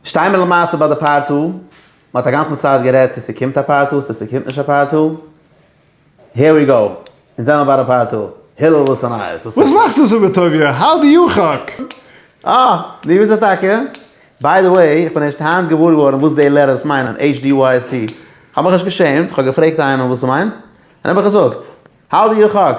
שטיי מיר למעשה ביי די פארט א, מען האט אגאנצן צייט גערעדט צו ס'קומט א פארט א צו ס'קומט נישט א פארט א, העיר ווי גאו, אונז זעמער ביי די פארט א, הילל וואס איז נייעס? וואס מאכסטו אזוי מיט טוביה? האו דו יו חק? אה! דו ביסט עס טאקע? ביי די וועי, איך בין ערשט היינט געוואר געווארן וואס די לעטערס מיינען, HDYC. כ'האב מיך נישט געשעמט, כ'האב געפרעגט איינעם וואס ס'מיינט, און ער האט מיך געזאגט. האו דו יו חק?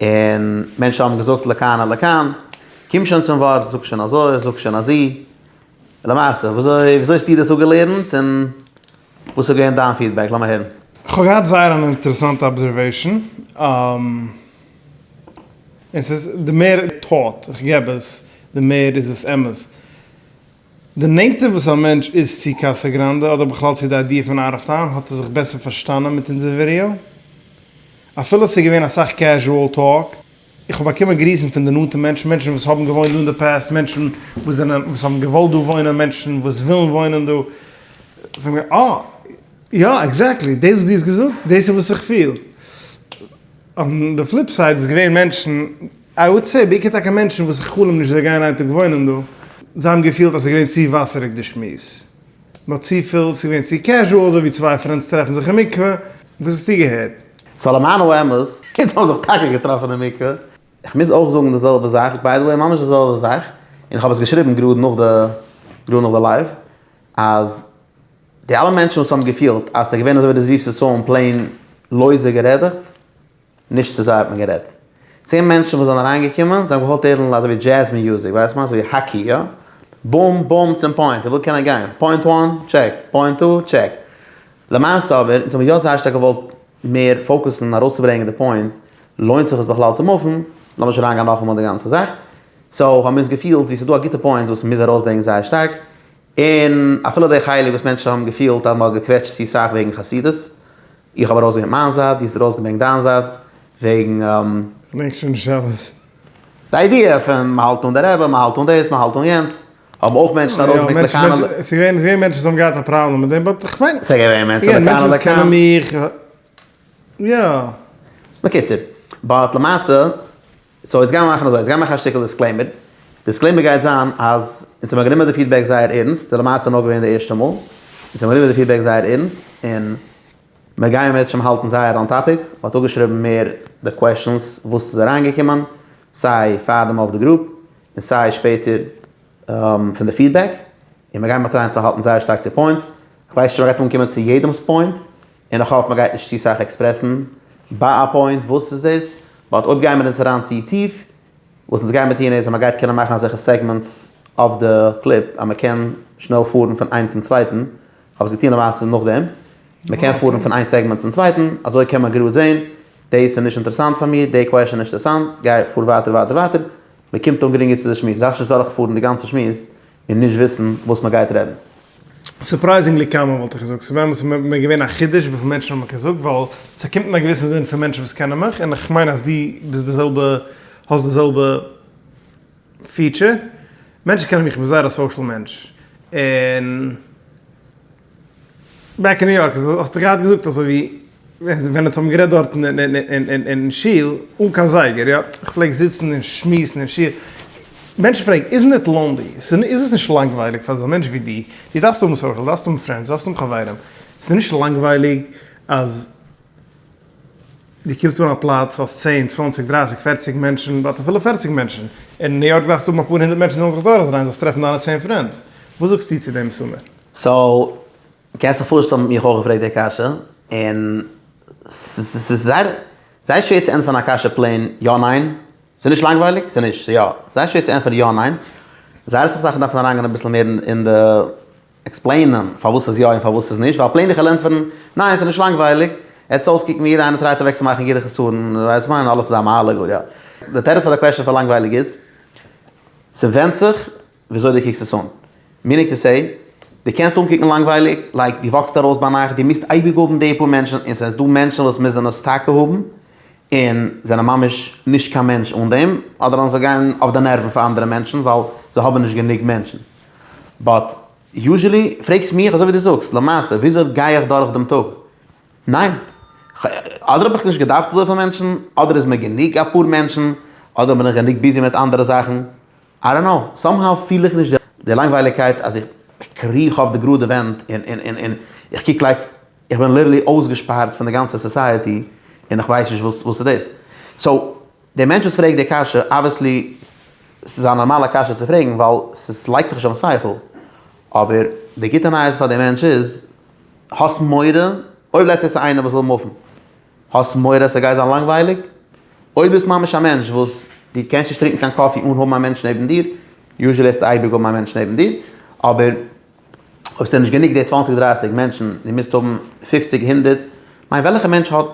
און מענטשן האבן געזאגט לכאן או לכאן, קום שוין צום ווארט, זאג שוין אזוי, זאג שוין אזי. למעשה, וויאזוי האסטו דאס אפגעלערנט און וואס איז געווען דיין פידבעק? לאמיר הערן. כ'האב געהאט זייער אן אינטערעסאנטע אבזערוועישאן, און ס'איז די מער טאוט איך געב עס, די מער איז עס אמת. די נענטער וואס א מענטש איז צו קאסא גראנדע אדער בכלל צו די איידיע פון אוט אוו טאון האט ער זיך בעסער פארשטאנען מיט אונזער ווידעא. אפילו ס'איז געווען אסאך קעזשועל טאלק. איך האב באקומען גריסן פון די נאנטע מענטשן, מענטשן וואס האבן געוואוינט דא אין די פעסט, מענטשן וואס זענען וואס האבן געוואלט דא וואוינען, מענטשן וואס ווילן וואוינען דא. זיי האבן געזאגט, אה, יא, עקזעקטלי דאס וואס דו האסט געזאגט, דאס איז וואס איך פיל. און די פליפ סייד איז געווען מענטשן. איי וואלד סעי, בעיקר טאקע מענטשן וואס איך חלום נישט זיי גייען איין טאג וואוינען דא. זיי האבן געפילט אז ס'איז געווען צו וואסעריג די שמועס. נאר צופיל, ס'איז געווען צו קעזשועל, אזוי ווי צוויי פרענדס טרעפן זיך אין מקווה. וואס האסטו געהערט? סאו למען האמת, אונז האבן זיך טאקע געטראפן אין מקווה. איך מוז אויך זאגן די זעלבע זאך, ביי די וועי ממש די זעלבע זאך, און איך האב עס געשריבן גראד נאך די גראד נאך די לייוו, אז די אלע מענטשן וואס האבן געפילט אז ס'איז געווען אזוי ווי די זיו סיסאון פלעין לויזע גערעדעכץ, נישט צו זיי האט מען גערעדט. צען מענטשן וואס זענען אריינגעקומען, זיי האבן געוואלט הערן ליידער ווי דזשעז מיוזיק, ווייסט מען, אזויווי האקי, יא? בום בום צום פוינט, איך וויל קענען גיין, פוינט וואן, טשעק, פוינט טו, טשעק. למעשה אבער, אונז האבן יא זייער שטארק געוואלט מער פאוקוסן ארויסצוברענגען די פוינט, לוינט זיך עס בכלל צו מופן, לאמיר נישט אריינגיין נאכאמאל אין די גאנצע זאך, סאו האבן מיר אונז געפילט ווי ס'איז דא א גוטע פוינט וואס מ'מוז ארויסברענגען זייער שטארק, און אפילו די חלק וואס מענטשן האבן געפילט אז מ'האט געקוועטשט צו סאך וועגן חסידות, איך האב ארויסגעברענגט מיין זייט, דו האסט ארויסגעברענגט דיין זייט, וועגן. פרעגסט שוין שאלות. די איידיע פון מ'האלט אן די רעבע, מ'האלט אן דאס, מ'האלט אן יענץ, האבן אויך מענטשן ארויסגעברענגט לכאן ול. ס'איז געווען מענטשן וואס האבן געהאט א פראבלעם מיט דעם, באט איך מיין. ס'איז געווען מענטשן לכאן ולכאן. מענטשן וואס קענען מיך, יא. בקיצור, באט למעשה. סאו יעצט גיימער מאכן אזוי, יעצט גיימער מאכן א שטיקל דיסקלעימער, דיסקלעימער גייט זיין אז אונז האבן גענומען די פידבעק זייער ערנסט, ס'איז למעשה נאר געווען די ערשטע מאל, אונז האבן גענומען די פידבעק זייער ערנסט, און מיר גייען מיט שם האלטן זייער אן טאפיק, מ'האט אפגעשריבן מער די קוועשאנס וואס איז אריינגעקומען, סיי פאר די מאוו די גרופ, און סיי שפעטער פון די פידבעק, און מיר גייען מיט טרייען צו האלטן זייער שטארק צו פוינטס, כ'ווייס נישט צו מ'גייט אנקומען צו יעדעמ'ס פוינט, און איך האף מען גייט נישט צו סאך עקספרעסן ביי א פוינט וואס איז דאס, באט אויב גייען מיר אונז אריין צו טיף, וואס אונז גייען מיר טון איז אז מען גייט קענען מאכן אזעלכע סעגמענטס אויף די קליפ אז מען קען שנעל פארן פון איין צום צווייטן, כ'האב עס געטון למעשה נאכדעם, מען קען פארן פון איין סעגמענט צום צווייטן, אזוי קען מען גראד זען, דאס איז נישט אינטערעסאנט פאר מיר, די קוועשן איז נישט אינטערעסאנט, גיי פאר ווייטער ווייטער ווייטער, מען קומט אן גרינגער צו די שמועס, דארפסט נישט דורכפארן די גאנצע שמועס. און נישט וויסן וואס מען גייט רעדן. סורפרייזינגלי קאמאן וואלט איך געזאגט, ס'ווען וואס איז מיר געווען א חידוש וויפיל מענטשן האבן מיך געזאגט, ווייל ס'קומט אין א געוויסן זין פון מענטשן וואס קענען מיך, און איך מיין אז דו ביסט די זעלבע, האסט די זעלבע פיעטשער, מענטשן קענען מיך, איך בין זייער א סאושעל מענטש, און. בעק אין ניו יארק האסטו געהאט געזאגט אזוי ווי ווען אונז האבן גערעדט דארטן אין שול אן קיין זייגער יא איך פלעג זיצן און שמועסן אין שול מענטשן פרעגן איזן איט לאנלי איז עס נישט לאנגווייליג פאר אזא מענטש ווי דו דו דארפסט האבן סאושעל דארפסט האבן פרענדס דארפסט האבן חברים איז עס נישט לאנגווייליג אז דו קומסט אן א פלאץ האסט צען צוואנציג דרייסיג פערציג מענטשן באט אפילו פערציג מענטשן אין ניו יארק דארפסטו האבן אפאר הונדערט מענטשן זאלן זיך דורכדרייען זאלסט טרעפן דיינע צען פרענד וואס זאגסטו צו דעם מסמר? סאו, קענסט דיך פארשטעלן מיך אויך געפרעגט די קשיא, און ס'איז זייער זייער שווער צו ענטפערן א קשיא פלעין יא ניין, ס'איז נישט לאנגווייליג? ס'איז נישט, ס'איז יא, זייער שווער צו ענטפערן יא ניין, זייער אסאך זאכן דארפן אריינגיין אביסל מער אין די. עקספלעינען פארוואס ס'איז יא און פארוואס ס'איז נישט, ווייל פלעין די כעלענפערן, ניין ס'איז נישט לאנגווייליג, עטס אויסקוקן ווי יעדע איינער טרייט אוועק צו מאכן יעדע חסרון, ווייסט וואס כ'מיין, אלעס איז א מעלה גאר יא. די תירוץ פאר די קוועשען פאר לאנגווייליג איז, ס'ווענדט זיך וויאזוי דו קוקסט עס אן, מיענינג טו סעי, דו קענסט אנקוקן לאנגווייליג, לייק דו וואקסט ארויס ביינאכט, דו מוזט אייביג האבן די פאר מענטשן, און ס'איז דא מענטשן וואס מוזן עס טאקע האבן, און זענען ממש נישט קיין מענטש אן דעם, אדער אז זיי גייען אויף די נערוון פאר אנדערע מענטשן ווייל זיי האבן נישט גענוג מענטשן. באט יוזשעלי פרעגסט מיך אזוי ווי דו זאגסט למעשה וויאזוי גיי איך דורך דעם טאג? ניין. אדער האב איך נישט געדארפט אזויפיל מענטשן, אדער איז מיר גענוג אפאר מענטשן, אדער בין איך גענוג ביזי מיט אנדערע זאכן, איי דאנט קנאו, סאם האו פיל איך נישט די לאנגווייליגקייט אז איך קריך אויף די גראדע ווענט און איך קוק לייק איך בין ליטערלי אויסגעשפארט פון די גאנצע סאסייעטי און איך ווייס נישט וואס איז דאס. דער מענטש וואס פרעגט די קשיא, אבוויעסלי ס'איז א נארמאלע קשיא צו פרעגן ווייל ס'לייגט זיך נישט אויפן שכל, אבער די גוטע נייעס פאר די מענטש איז, האסט מורא אויב לעצטענס איז איינער וואס וויל מופן? האסט מורא ס'גייט זיין לאנגווייליג? אויב ביסט ממש א מענטש וואס די קענסט נישט טרינקן קיין קאפי אן האבן א מענטש נעבן דיר, יוזשעלי העסטו אייביג האבן א מענטש נעבן דיר, אבער אויב ס'איז דיר נישט גענוג די צוואַנציק דרייסיג מענטשן, דו מוזט האבן פופציג הונדערט, כ'מיין וועלכע מענטש האט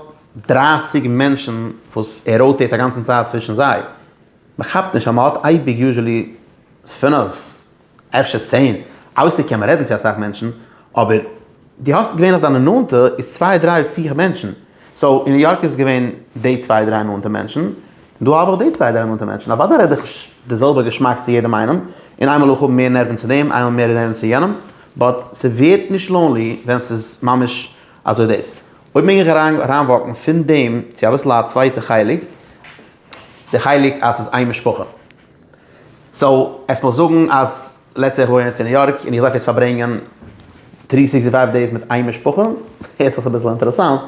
דרייסיג מענטשן וואס ער ראוטעיט אגאנצן צייט צווישן זיי? מ'כאפט נישט אז מ'האט אייביג יוזשעלי פינף אפשר צען, אויסער קען מען רעדן צו אסאך מענטשן, אבער דו האסט געווענליך דיינע נאנטע איז צוויי דריי פיהר מענטשן, סאו אין ניו יארק איז עס געווען די צוויי דריי נאנטע מענטשן, דא האב איך די צוויי דערמאנטע מענטשן, אוודאי רעד איך נישט די זעלבע געשמאק צו יעדעם איינעם, און איינמאל איך האב מער נערווען צו דעם, איינמאל מער נערווען צו יענעם, באט ס'ווערט נישט לאנלי ווען ס'איז ממש אזוי דאס. אויב מעג איך אריינוואקן פון דעם צו אביסל א צווייטע חלק, די חלק אז ס'איז איין משפחה. סאו עס מוז זאגן אז לעטס סעי איך וואוין יעצט אין ניו יארק און איך דארף יעצט פארברענגען טרי סיקסטי פייוו דעיס מיט איין משפחה, הערט זיך אביסל אינטערעסאנט,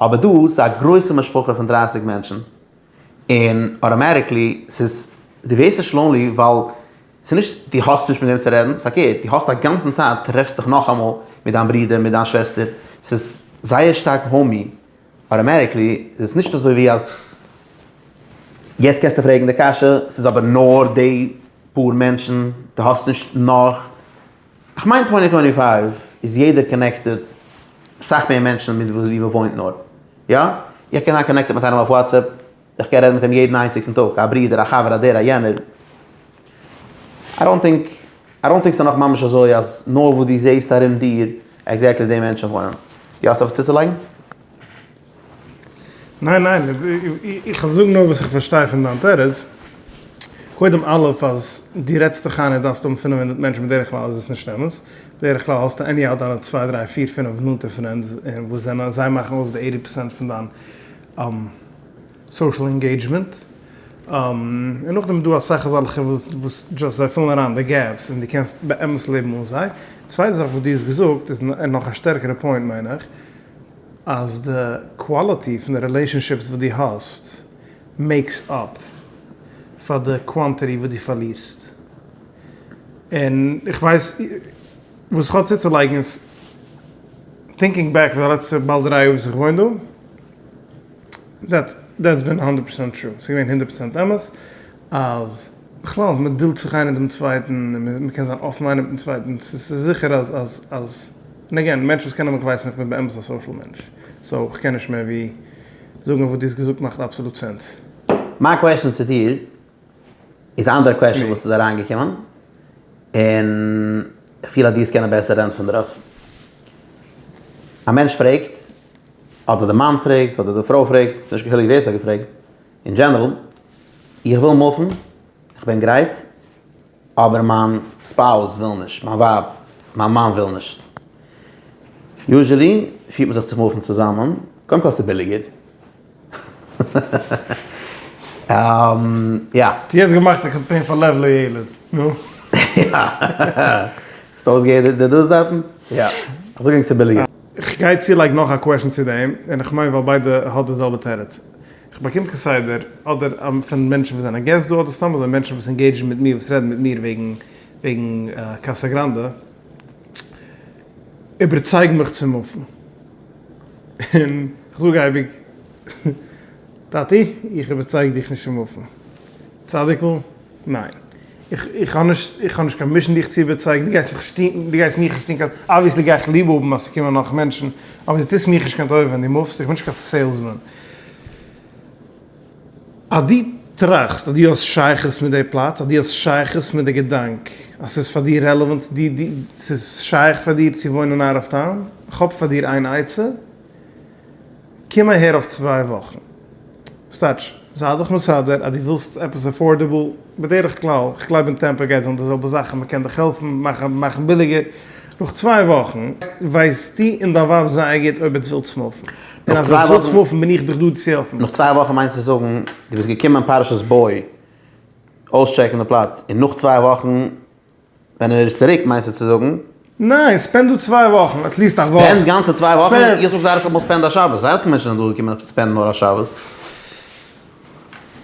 אבער דא ס'איז א גרויסע משפחה פון דרייסיג מענטשן, און אוטאמעטיקלי ס'איז די ווערסט שלאנלי ווייל ס'איז נישט די האסט נישט מיט וועם צו רעדן פארקערט די האסט א גאנצן צייט טרעפסטו דיך נאכאמאל מיט דיין ברודער מיט דיין שוועסטער ס'איז זייער שטארק האומי אוטאמעטיקלי איז עס נישט אזוי ווי אז יעצט קענסטו פרעגן די קשיא ס'איז אבער נאר די פאר מענטשן די האסט נישט נאך. כ'מיין טווענטי טווענטי פייוו איז יעדער קאנעקטעד סאך מער מענטשן מיט ווי מ'וואוינט נאר. יא, איך קען זיין קאנעקטעד מיט איינעם אויף וואטסעפפ, איך קען רעדן מיט אים יעדן איינציגסטן טאג, א ברודער, א חבר, א דער, א יענער. איי דאנט טינק, איי דאנט טינק ס'איז נאך ממש אזוי אז נאר וואו דו זעסט ארום דיר עקזעקטלי די מענטשן וואוינען. יא, האסט עפעס צוצולייגן? ניין ניין, איך וויל זאגן נאר וואס איך פארשטיי פון דיין תירוץ, קודם א' אז דו רעדסט דיך איין אז דארפסט האבן פֿינף הונדערט מענטשן בדרך כלל איז עס נישט אמת, בדרך כלל האסטו עניהאו דיינע צוויי דריי פיר פינף נאנטע פרענדס וואס זענען זיי מאכן אויס די עיטי פערסענט פון דיין סאושעל אינגעידזשמענט, און נאכדעם איז דא אסאך אזאלכע וואס דזשאסט זיי פילן אריין די געפס און דו קענסט באמת לעבן אן זיי, צווייטע זאך וואס דו האסט געזאגט איז נאך א שטערקערע פוינט מיין איך. אז די קוואליטי פון די רילעישאנשיפס וואס דו האסט מעיקס אפ פאר די קוואנטיטי וואס דו פארלירסט, און איך ווייס וואס איך האב צוצולייגן איז, טינקינג בעק פאר די לעצטע באלד דרײַ יאר וואס איך וואוין דא, דעטס בין הונדערט פראצענט טרו, ס'איז געווען הונדערט פראצענט אמת. אז בכלל אז מען דילט זיך איינער דעם צווייטן און מען קען זיין אפן איינער מיטן צווייטן, ס'איז זיכער אז אז אז און עגעין מענטש וואס קענען מיך ווייסן איך בין באמת א סאושעל מענטש, סאו איך קען נישט מער ווי זאגן אז וואס דו האסט געזאגט מאכט אבסאלוט סענס. מיין קוועשאן צו דיר איז א אנדערע קוועשאן וואס איז אריינגעקומען, און איך פיל אז דו וועסט קענען בעסער ענטפערן דערויף. א מענטש פרעגט, אדער די מאן פרעגט, אדער די פרוי פרעגט, ס'איז נישט קיין חילוק ווער ס'האט געפרעגט, אין דזשענערל, איך וויל מופן, איך בין גרייט, אבער מיין ספאוז וויל נישט, מיין ווייב, מיין מאן וויל נישט. יוזשעלי פירט מען זיך צו מופן צוזאמען, קודם כל ס'איז ביליגער. יא. טו האסט געמאכט א קאמפיין פאר לב לילד, נו. יא. האסט אויסגעהערט די דעות דארטן? יא. אזוי גענג ס'איז ביליגער. כ'גיי צולייגן נאך א קוועשן צו דעם, און כ'מיין ווייל ביידע האט די זעלבע תירוץ. כ'באקום כסדר אדער פון מענטשן וואס זענען געסט דא אדער סתם אזוי מענטשן וואס אינגעידזשן מיט מיר וואס רעדן מיט מיר וועגן קאסא גראנדע איבערצייגן מיך צו מופן און כ'זאג אייביג טאטי איך איבערצייג דיך נישט פון מופן צדיק'ל ניין. איך האב נישט איך האב נישט קיין מישן דיך צו איבערצייגן, דו גייסט מיך שטינקן, דו גייסט מיך שטינקן, אבוויעסלי גיי איך ליב האבן אז ס'קומען נאך מענטשן, אבער דו טוסט מיך נישט קיין טובה ווען דו מופסט, איך בין נישט קיין סעילסמאן. אז דו טראכסט אז דו האסט שייכות מיט די פלאץ, אז דו האסט שייכות מיט די געדאנק, אז ס'איז פאר דיר רעלעוואנט, ס'איז שייך פאר דיר צו וואוינען אוט אוו טאון, איך האב פאר דיר איין עצה, קום אהער אויף צוויי וואכן. סטארטש, זיי דיך מסדר אז דו ווילסט עפעס עפארדעבל, בדרך כלל, איך גלייב אין טעמפא גייט זיין די זעלבע זאך און מען קען דיך העלפן מאכן מאכן ביליגער, נאך צוויי וואכן ווייסטו און דיין ווייב זייער גוט אויב עטס ווילטס מופן, און אז עטס ווילטס מופן בין איך דיך דא צו העלפן. נאך צוויי וואכן מיינסטו זאגן דו ביסט געקומען פרשת בואי אויסטשעקן די פלאץ און נאך צוויי וואכן. ווען ער איז צוריק מיינסטו צו זאגן? ניין, ספענד דא צוויי וואכן, עטליעסט א וואך. ספענד גאנצע צוויי וואכן? איך זאג זייער אסאך מאל ספענד א שבת, זייער אסאך מענטשן זענען דא געקומען אויף ספענד נאר א שבת.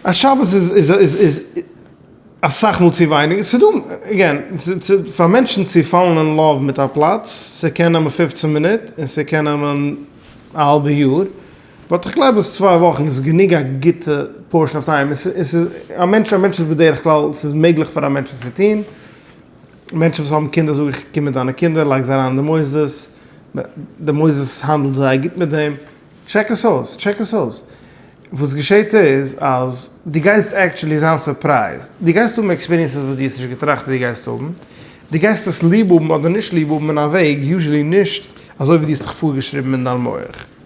א שבת איז אסאך מאל צו ווייניג, ס'איז דא, עגעין, פאר מענטשן צו פאלן אין לאוו מיט א פלאץ, ס'קען נעמען פופצן מינוט און ס'קען נעמען א האלבע יאר. באט איך גלייב אז צוויי וואכן איז גענוג א גוטע פארשן אויף טיים, עס איז א מענטש א מענטש איז בדרך כלל עס איז מעגליך פאר א מענטש עס צו טוהן, מענטשן וואס האבן קינדער זאג איך קום מיט דיינע קינדער לייג זיי אריין אין די מוסדות, די מוסדות האנדלט זייער גוט מיט דעם, טשעק עס אויס, טשעק עס אויס, וואס געשעהט איז אז דו גייסט עקטשולי זיין סורפרייזד, דו גייסט האבן עקספיריענסעס וואס דו האסט נישט געטראכט אז דו גייסט האבן, דו גייסט עס ליב האבן אדער נישט ליב האבן אין א וועג יוזשעלי נישט אזוי ווי דו האסט זיך פארגעשריבן אין דיין מח.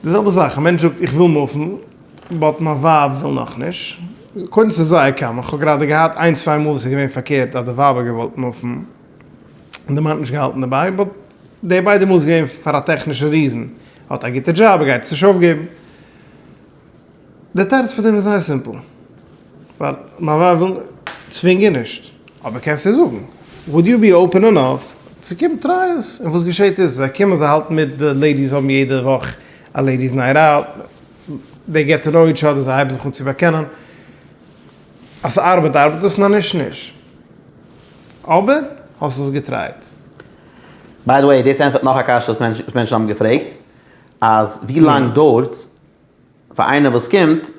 די זעלבע זאך, א מענטש זאגט איך וויל מופן באט מיין ווייב וויל נאכנישט, קודם ס'איז זייער קאמאן, איך האב גראדע געהאט איין צוויי מאל וואס איז געווען פארקערט אז די ווייב האט געוואלט מופן און די מאן האט נישט געהאלטן דערביי, באט די ביידע מאל איז געווען פאר א טעכנישע ריזען, האט א גוטע דזשאב, גייט עס נישט אויפגעבן. דער תירוץ פון דעם איז זייער סימפל, ווייל מיין ווייב וויל צווינגען נישט, אבער קענסט איר זאגן, וואלד יו בי אופען אינאף צו קומען טריי עס, און וואס געשעט איז זיי קומען זיי האלטן מיט די לעידיס האבן יעדע וואך א לעידיס נייט אוט, דעי געט טו נאו איטש אדער זיי הייבן זיך אן צו באקענען, אז ס'ארבעט ארבעט עס נאר נישט נישט, אבער האסט עס געטרייט? ביי די וועי דאס ענטפערט נאך א קשיא וואס מענטשן האבן געפרעגט אז ווי לאנג דוירט פאר איינער וואס קומט,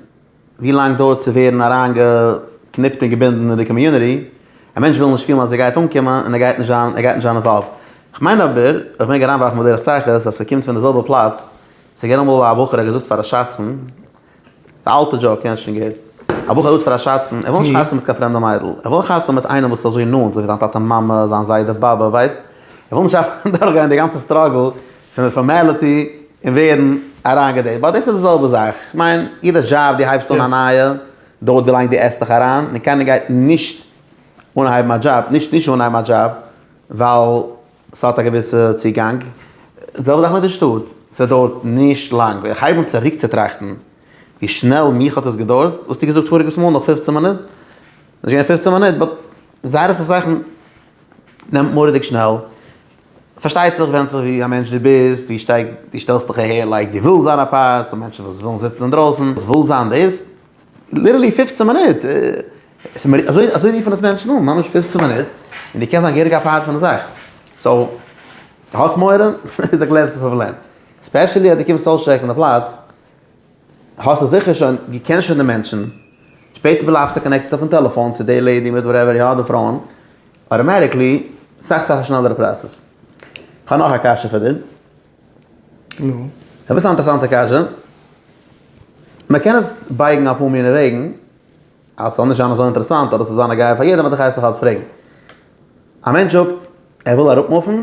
ווי לאנג דויערט צו ווערן אריינגעקניפט און געבינדן אין די קאמיוניטי? א מענטש וויל נישט פילן אז ער גייט אנקומען און ער גייט נישט זיין ער גייט נישט זיין אינוואלווד. כ'מיין אבער, איך מעג אריינווארפן בדרך צחות, אז ס'קומט פון די זעלבע פלאץ, ס'געווען אמאל א בחור האט געזאגט פאר א שדכן, ס'איז א אלטע דזשאוק יענס שוין געהערט, א בחור האט געזאגט פאר א שדכן, ער וויל נישט חתונה מיט קיין פרעמדע מיידל, ער וויל חתונה מיט איינעם וואס איז אזוי נאנט, אזוי ווי זיין טאטע מאמע, זיין זיידע באבע, ווייסט? ער וויל נישט דורכגיין די גאנצע סטראגל פון די פארמעליטי און ווערן אריינגעדעט, ווייל דאס איז די זעלבע זאך, איך מיין יעדע דזשאב די הייבסט אן א נייע דויערט ווי לאנג די עסט דיך אריין, און קיינער גייט נישט אנהייבן א דזשאב, נישט נישט אנהייבן א דזשאב ווייל ס'האט א געוויסע צוגאנג, די זעלבע זאך מיט די שטאט, ס'דויערט נישט לאנג, ווען איך הייב אן צוריק צו טראכטן ווי שנעל מיך האט עס געדויערט, וואלסטו געזאגט פאריגעס מאל נאך פֿופֿצן מינוט, ס'נישט געווען פֿופֿצן מינוט באט זייערע סאך זאכן נעמט מורא'דיג שנעל. פארשטייט זיך ווענדט זיך ווי א מענטש דו ביסט, ווי שטארק דו שטעלסט דיך אהער, לייק דו ווילסט זיין א פאר, ס'דא מענטשן וואס ווילן זיצן אינדרויסן, וואס וויל זיין דאס, ליטערלי פֿופֿצן מינוט, אזוי אזוי רופן עס מענטשן אן, ממש פֿופֿצן מינוט, און דו קענסט זיין געהעריג א פארט פון די זאך, סאו, דו האסט מורא? איז א גלעזער פראבלעם, ספעשעלי אז דו קומסט אויסטשעקן די פלאץ, האסטו זיכער שוין, דו קענסט שוין די מענטשן, שפעטער בלייבסטו קאנעקטעד אויפן טעלעפאן צו די לעדי מיט וואטעווער, יא די פרויען. אוטאמעטיקלי סאך סאך א שנעלערע פראסעס. כ'האב נאך א קשיא פאר דיר. נו? אביסל א אינטערעסאנטע קשיא. מ'קען עס בייגן אפאר מיני וועגן, אז ס'זאל נישט זיין אזוי אינטערעסאנט אדער ס'זאל זיין א געיעג פאר יעדעם, אבער איך הייס דיך אלץ פרעגן. א מענטש זאגט ער וויל אראפמופן,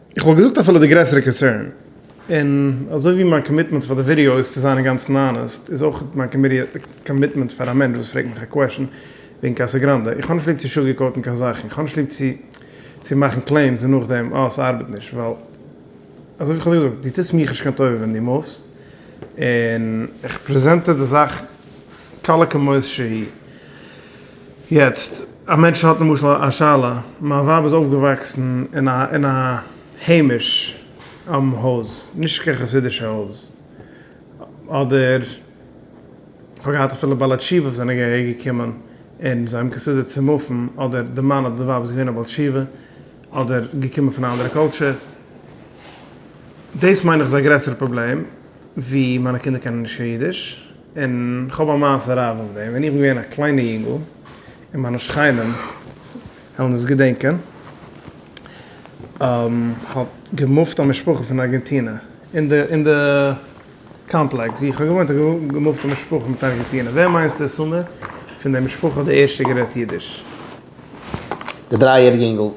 איך וואלט געזאגט אפילו די גרעסערע קאנסערן, און אזוי ווי מיין קאמיטמענט פאר די ווידעא איז צו זיין אינגאנצן האנעסט, איז אויך מיין קאמיטמענט פאר א מענטש וואס פרעגט מיך א קוועשן וועגן קאסא גראנדע. איך האב נישט ליב צו שוגערקאוטן קיין זאכן, איך האב נישט ליב צו צו מאכן קלעימס און נאכדעם אה ס'ארבעט נישט, ווייל אזוי ווי כ'האב דיר געזאגט, דו טוסט מיך נישט קיין טובה ווען דו מופסט, און. איך פרעזענט דיר די זאך קלה כמות שהיא. יעצט, א מענטש האט למשל א שאלה, מיין ווייב איז אויפגעוואקסן אין א אין א היימיש עם הויז, נישט קיין חסידישע הויז, אדער כ'האב געהאט אפילו בעלי תשובה וואס זענען אהער געקומען און זיי האבן קאנסידערט צו מופן, אדער די מאן אדער די ווייב איז געווען א בעל תשובה, אדער געקומען פון א אנדערע קולטשור, דאס מיין איך איז א גרעסערע פראבלעם. ווי מיינע קינדער קענען נישט קיין אידיש, און כ'האב א מעשה רב אויף דעם, ווען איך בין געווען א קליינע יונגל, און מיינע שכנים וועלן עס געדענקען, האט געמופט א משפחה פון ארגענטינע, אין די אין די קאמפלעקס ווי איך האב געוואוינט האט געמופט א משפחה מיט ארגענטינע, ווער מיינסטו איז סאמער פון די משפחה די ערשטע גערעדט אידיש? די דריי יעריגע יונגל.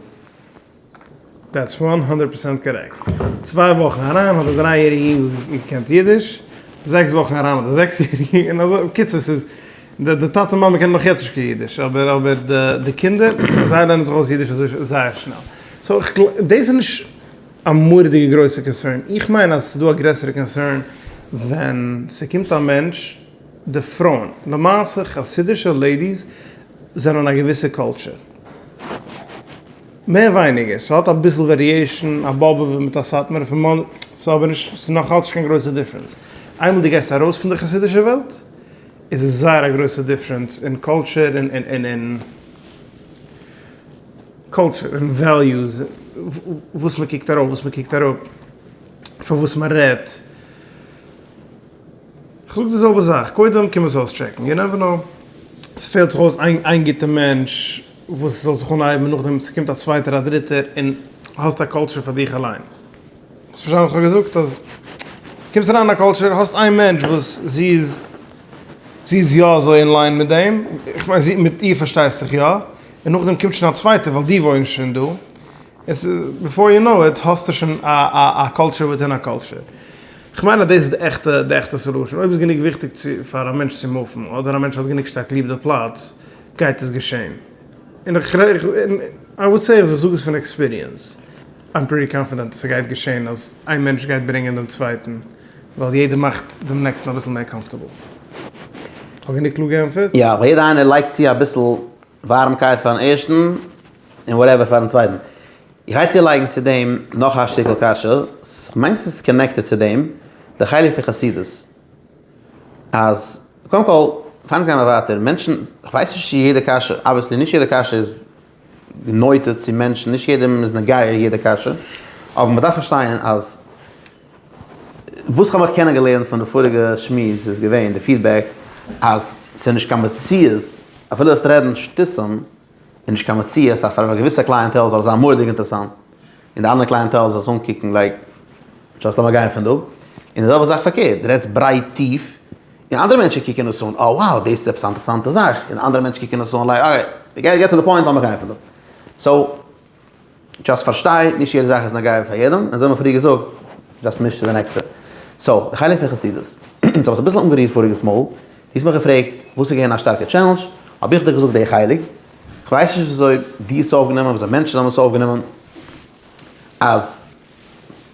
דעטס וואן הונדערט פראצענט קארעקט. צוויי וואכן אריין האט א דריי יעריגע אינגל געקענט אידיש, זעקס וואכן אריין האט א זעקס יעריגע און אזוי בקיצור ס'איז די די טאטע מאמע קענען נאך יעצט נישט קיין אידיש אבער אבער די די קינדער זיי לערנען זיך אויס אידיש אזוי זייער שנעל סאו איך גלייב דאס איז נישט א מורא'דיגע גרויסע קאנסערן איך מיין אז עס איז דא א גרעסערע קאנסערן ווען ס'קומט א מענטש די פרויען למעשה חסידישע לעידיס זענען א געוויסע קולטשער. מער ווייניגער, ס'האט אביסל וועריעישן, א באבוב'ער מיט א סאטמארער פון מאנ, ס'איז אבער נישט, ס'איז נאכאלץ נישט קיין גרויסע דיפרענס, איינמאל דו גייסט ארויס פון די חסידישע וועלט איז עס זייער א גרויסע דיפרענס אין קולטשער און און קולטשער און וועליוס, וואס מ'קוקט ארויף וואס מ'קוקט אראפ, פון וואס מ'רעדט. כ'זאג די זעלבע זאך, קודם קום עס אויסטשעקן, יו נעווער נאו, ס'פעלט זיך אויס איין איין גוטע מענטש וואס זאל זיך אנהייבן, נאכדעם ס'קומט א צווייטער א דריטער און האסט א קאלטשער פאר דיך אליין, האסט פארשטאנען וואס כ'האב געזאגט? אז קומסט אריין אין א קאלטשער, האסט איין מענטש וואס זי איז זי איז יא אזוי אין ליין מיט דעם, כ'מיין זי מיט איר פארשטייסטעך יא, און נאכדעם קומט שוין א צווייטער ווייל די וואוינסט שוין דא, עס איז ביפאר יו נאו איט האסטו שוין א א קולטשער וויטין א קולטשער. כ'מיין אז דאס איז די עכטע די עכטע סעלושען. אויב איז גענוג וויכטיג צו פאר א מענטש צו מופן, אדער א מענטש האט גענוג שטארק ליב די פלאץ, גייט עס געשען. און איך רעד און איי וואד סעי אז איך זאג עס פון עקספיריענס. איים פריטי קאנפידענט אז ס'גייט געשען אז איין מענטש גייט ברענגען דעם צווייטן, ווייל יעדער מאכט דעם נעקסטן אביסל מער קאמפארטעבל. כ'האב גענוג קלאר געענטפערט? יא, ווייל יעדער איינער לייגט צו אביסל. ווארעמקייט פארן ערשטן און וואטעווער פארן צווייטן. איך גיי צולייגן צו דעם נאך א שטיקל קשיא, כ'מיין ס'איז קאנעקטעד צו דעם, די חלק פון חסידות, אז קודם כל, פאר אונז גיימער ווייטער, מענטשן, כ'ווייס נישט צו יעדע קשיא, אבוויעסלי נישט יעדע קשיא איז נוטה צו מענטשן, נישט יעדעם איז נוגע יעדע קשיא, אבער מ'דארף פארשטייען אז. וואס כ'האב מיך קענען געלערנט פון די פאריגע שמועס איז געווען די פידבעק אז ס'איז נישט קיין מציאות אפילו וועסט רעדן שטותים איז נישט קיין מציאות אז פאר א געוויסע קלייענטעל זאל עס זיין מורא'דיג אינטערעסאנט און די אנדערע קלייענטעל זאל עס אנקוקן לייק דזשאסט לאמיר גיין פון דא און די זעלבע זאך פארקערט די רעדסט ברייט טיף און אנדערע מענטשן קוקן עס אן אה wow דאס איז עפעס א אינטערעסאנטע זאך און אנדערע מענטשן קוקן עס אן לייק אקעי געט טו די פוינט לאמיר גיין פון דא סאו. דשאסט פארשטיי, נישט יעדע זאך איז נוגע פאר יעדעם, און אזוי האמיר פריער געזאגט, דשאסט מיש צו די נעקסטע. סאו, די חלק פון חסידות. אונז האב עס אביסל אנגערירט פאריגעס מאל, דו האסט מיך געפרעגט וואס איז געווען א שטארקע טשעלענדזש, האב איך דיך געזאגט די חלק, כ'ווייס נישט וויאזוי דו האסט עס אויפגענומען, וויאזוי מענטשן האבן עס אויפגענומען, אז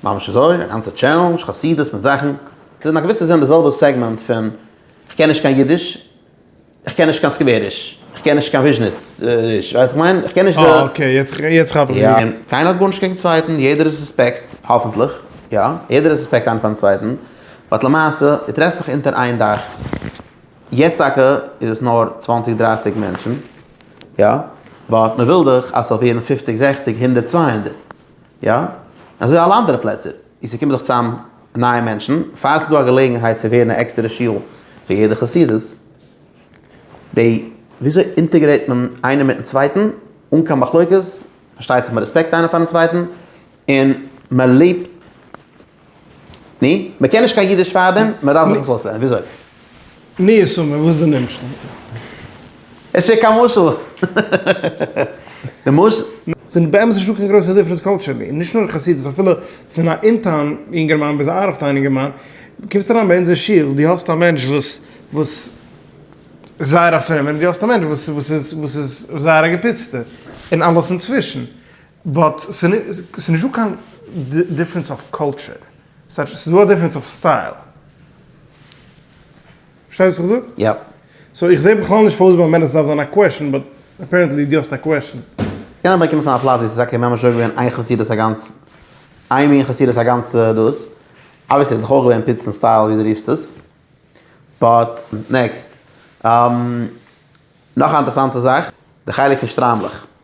ממש אזוי, א גאנצע טשעלענדזש, חסידות מיט זאכן. ס'איז אין א געוויסע זין די זעלבע סעגמענט פון כ'קען נישט קיין אידיש. איך קען נישט קיין סקוועריש, איך קען נישט קיין וויזשניץ ריש, ווייסט איך מיין? איך קען נישט די. אה אקעי, יעצט כאפ איך. יא, און קיינער האט גארנישט קעגן צווייטן, יעדער איז סוספעקט, האפענטליך, יא, יעדער איז סוספעקט איינער פארן צווייטן, באט למעשה, דו טרעפסט זיך אונטער איין דאך, יעצט טאקע איז עס נאר צוואנציג דרייסיג מענטשן, יא, באט מען וויל דאך אז ס'זאל ווערן פופציג זעכציג הונדערט צוויי הונדערט, יא, און אזוי אלע אנדערע פלעצער. און ס'קומען זיך צוזאם נייע מענטשן, פארט איז דא א געלעגנהייט צו ווערן א עקסטערע שול פאר יעדע חסידות. די וויאזוי אינטעגרעיט מען איינער מיטן צווייטן אן קיין מחלוקת, פארשטייט זיך מיט רעספעקט איינער פארן צווייטן, און מען לעבט, נו, מען קען נישט קיין אידיש פארדעם, מען דארף זיך עס אויסלערנען, וויאזוי? מי ישמע וואס דו נעמסט אן. עס איז קיין מוסר. די מוסר. זענען באמת נישטא קיין גרויסע דיפרענס קאלטשערלי, און נישט נאר אין חסידות, אפילו פון א אין-טאון יונגערמאן ביז א אאוט אוו טאון יונגערמאן, קומסט אריין ביי אונזער שול, דו האסט א מענטש וואס וואס איז זייער א פרומער, און דו האסט א מענטש וואס איז וואס איז זייער א געפיצטער, און אלעס אינצווישן. באט ס'איז נישטא קיין דיפרענס אויף קולטשער, ס'איז דא א דיפרענס אויף סטייל. פארשטייסט וואס איך זאג? יא. סאו איך זעה בכלל נישט פארוואס ביי מענער ס'דארף זיין א קוועשאן, באט אפערענטלי דו האסט א קוועשאן. קען אבער קומען פון א פלאץ ווי ס'איז טאקע ממש אויך געווען איין חסידות א גאנץ, איין מין חסידות א גאנץ דאס, אבוויעסלי האט זיך אויך געווען פיצן סטייל ווי דו רופסט עס. באט נעקסט. נאך א אינטערעסאנטע זאך, די חלק פון שטריימלעך.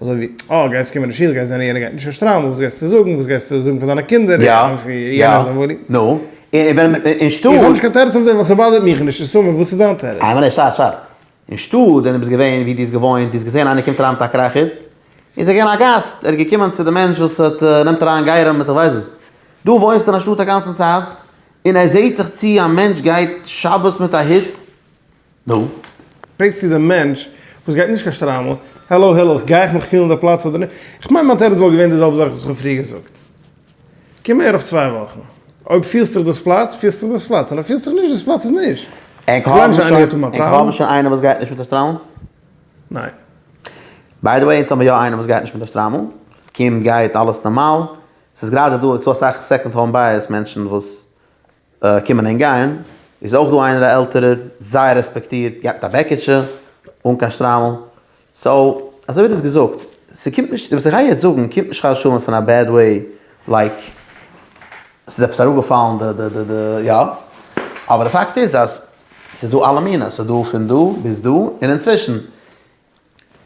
אזוי ווי, אה, גייסט קומען אין שול, גייסט זען יענער גייט נישט אין שטריימל, וואס גייסטו זאגן, וואס גייסטו זאגן פאר דיינע קינדער, יא, יא, נו, און ווען אין שטאט. איך האב נישט קיין טערעץ אויף דעם ווייל ס'באדערט מיך נישט, נישט סאמע, וואס איז דיין טערעץ? איי ווייל שטאט, שטאט, אין שטאט ווען דו ביסט געווען ווי דו האסט געוואוינט, דו האסט געזען איינער קומט אריין מיט א קרעכער, איז ער געווען א גאסט, ער איז געקומען צו די מענטש וואס האט, נעמט אריין גייערים מיט איך ווייס וואס, דו וואוינסט אין א שטאט א גאנצן צייט, און ער זעט זיך צו א מענטש גייט שבת מיט א הוט, נו? פרעגסטו דעם מענטש וואס גייט נישט קיין שטריימל, העלא הילעך, גיי איך מיך פילן די פלאץ אדער נישט? איך מיין מיין תירוץ וואלט געווען די זעלבע זאך וואס איך האב פריער געזאגט. קום אהער אויף צוויי וואכן. אויב פילסט דיך דאס פלאץ, פילסט דיך דאס פלאץ, און אויב פילסט דיך נישט דאס פלאץ איז נישט. ענק האבן שוין ענק האבן שוין איינער וואס גייט נישט מיט א שטריימל? ניין. ביי די וועי אונז האבן יא איינעם וואס גייט נישט מיט א שטריימל. קומט גייט אלעס נארמאל. ס'איז גראדע דא ס'איז דא אסאך סעקאנד האום בייערס מענטשן וואס. קומען און גייען, איז אויך דא איינער א עלטערער, זייער רעספעקטירט, געהאט א בעקיטשע, אן קיין שטריימל, סאו, אזוי ווי דו האסט געזאגט, ס'קומט נישט, וואס איך גיי יעצט זאגן קומט נישט חס ושלום פון א בעד וועי, לייק, ס'איז עפעס אראפגעפאלן די די די די יא, אבער די פאקט איז אז ס'איז דא אלע מינים, ס'איז דא פון דא ביז דא און אינצווישן.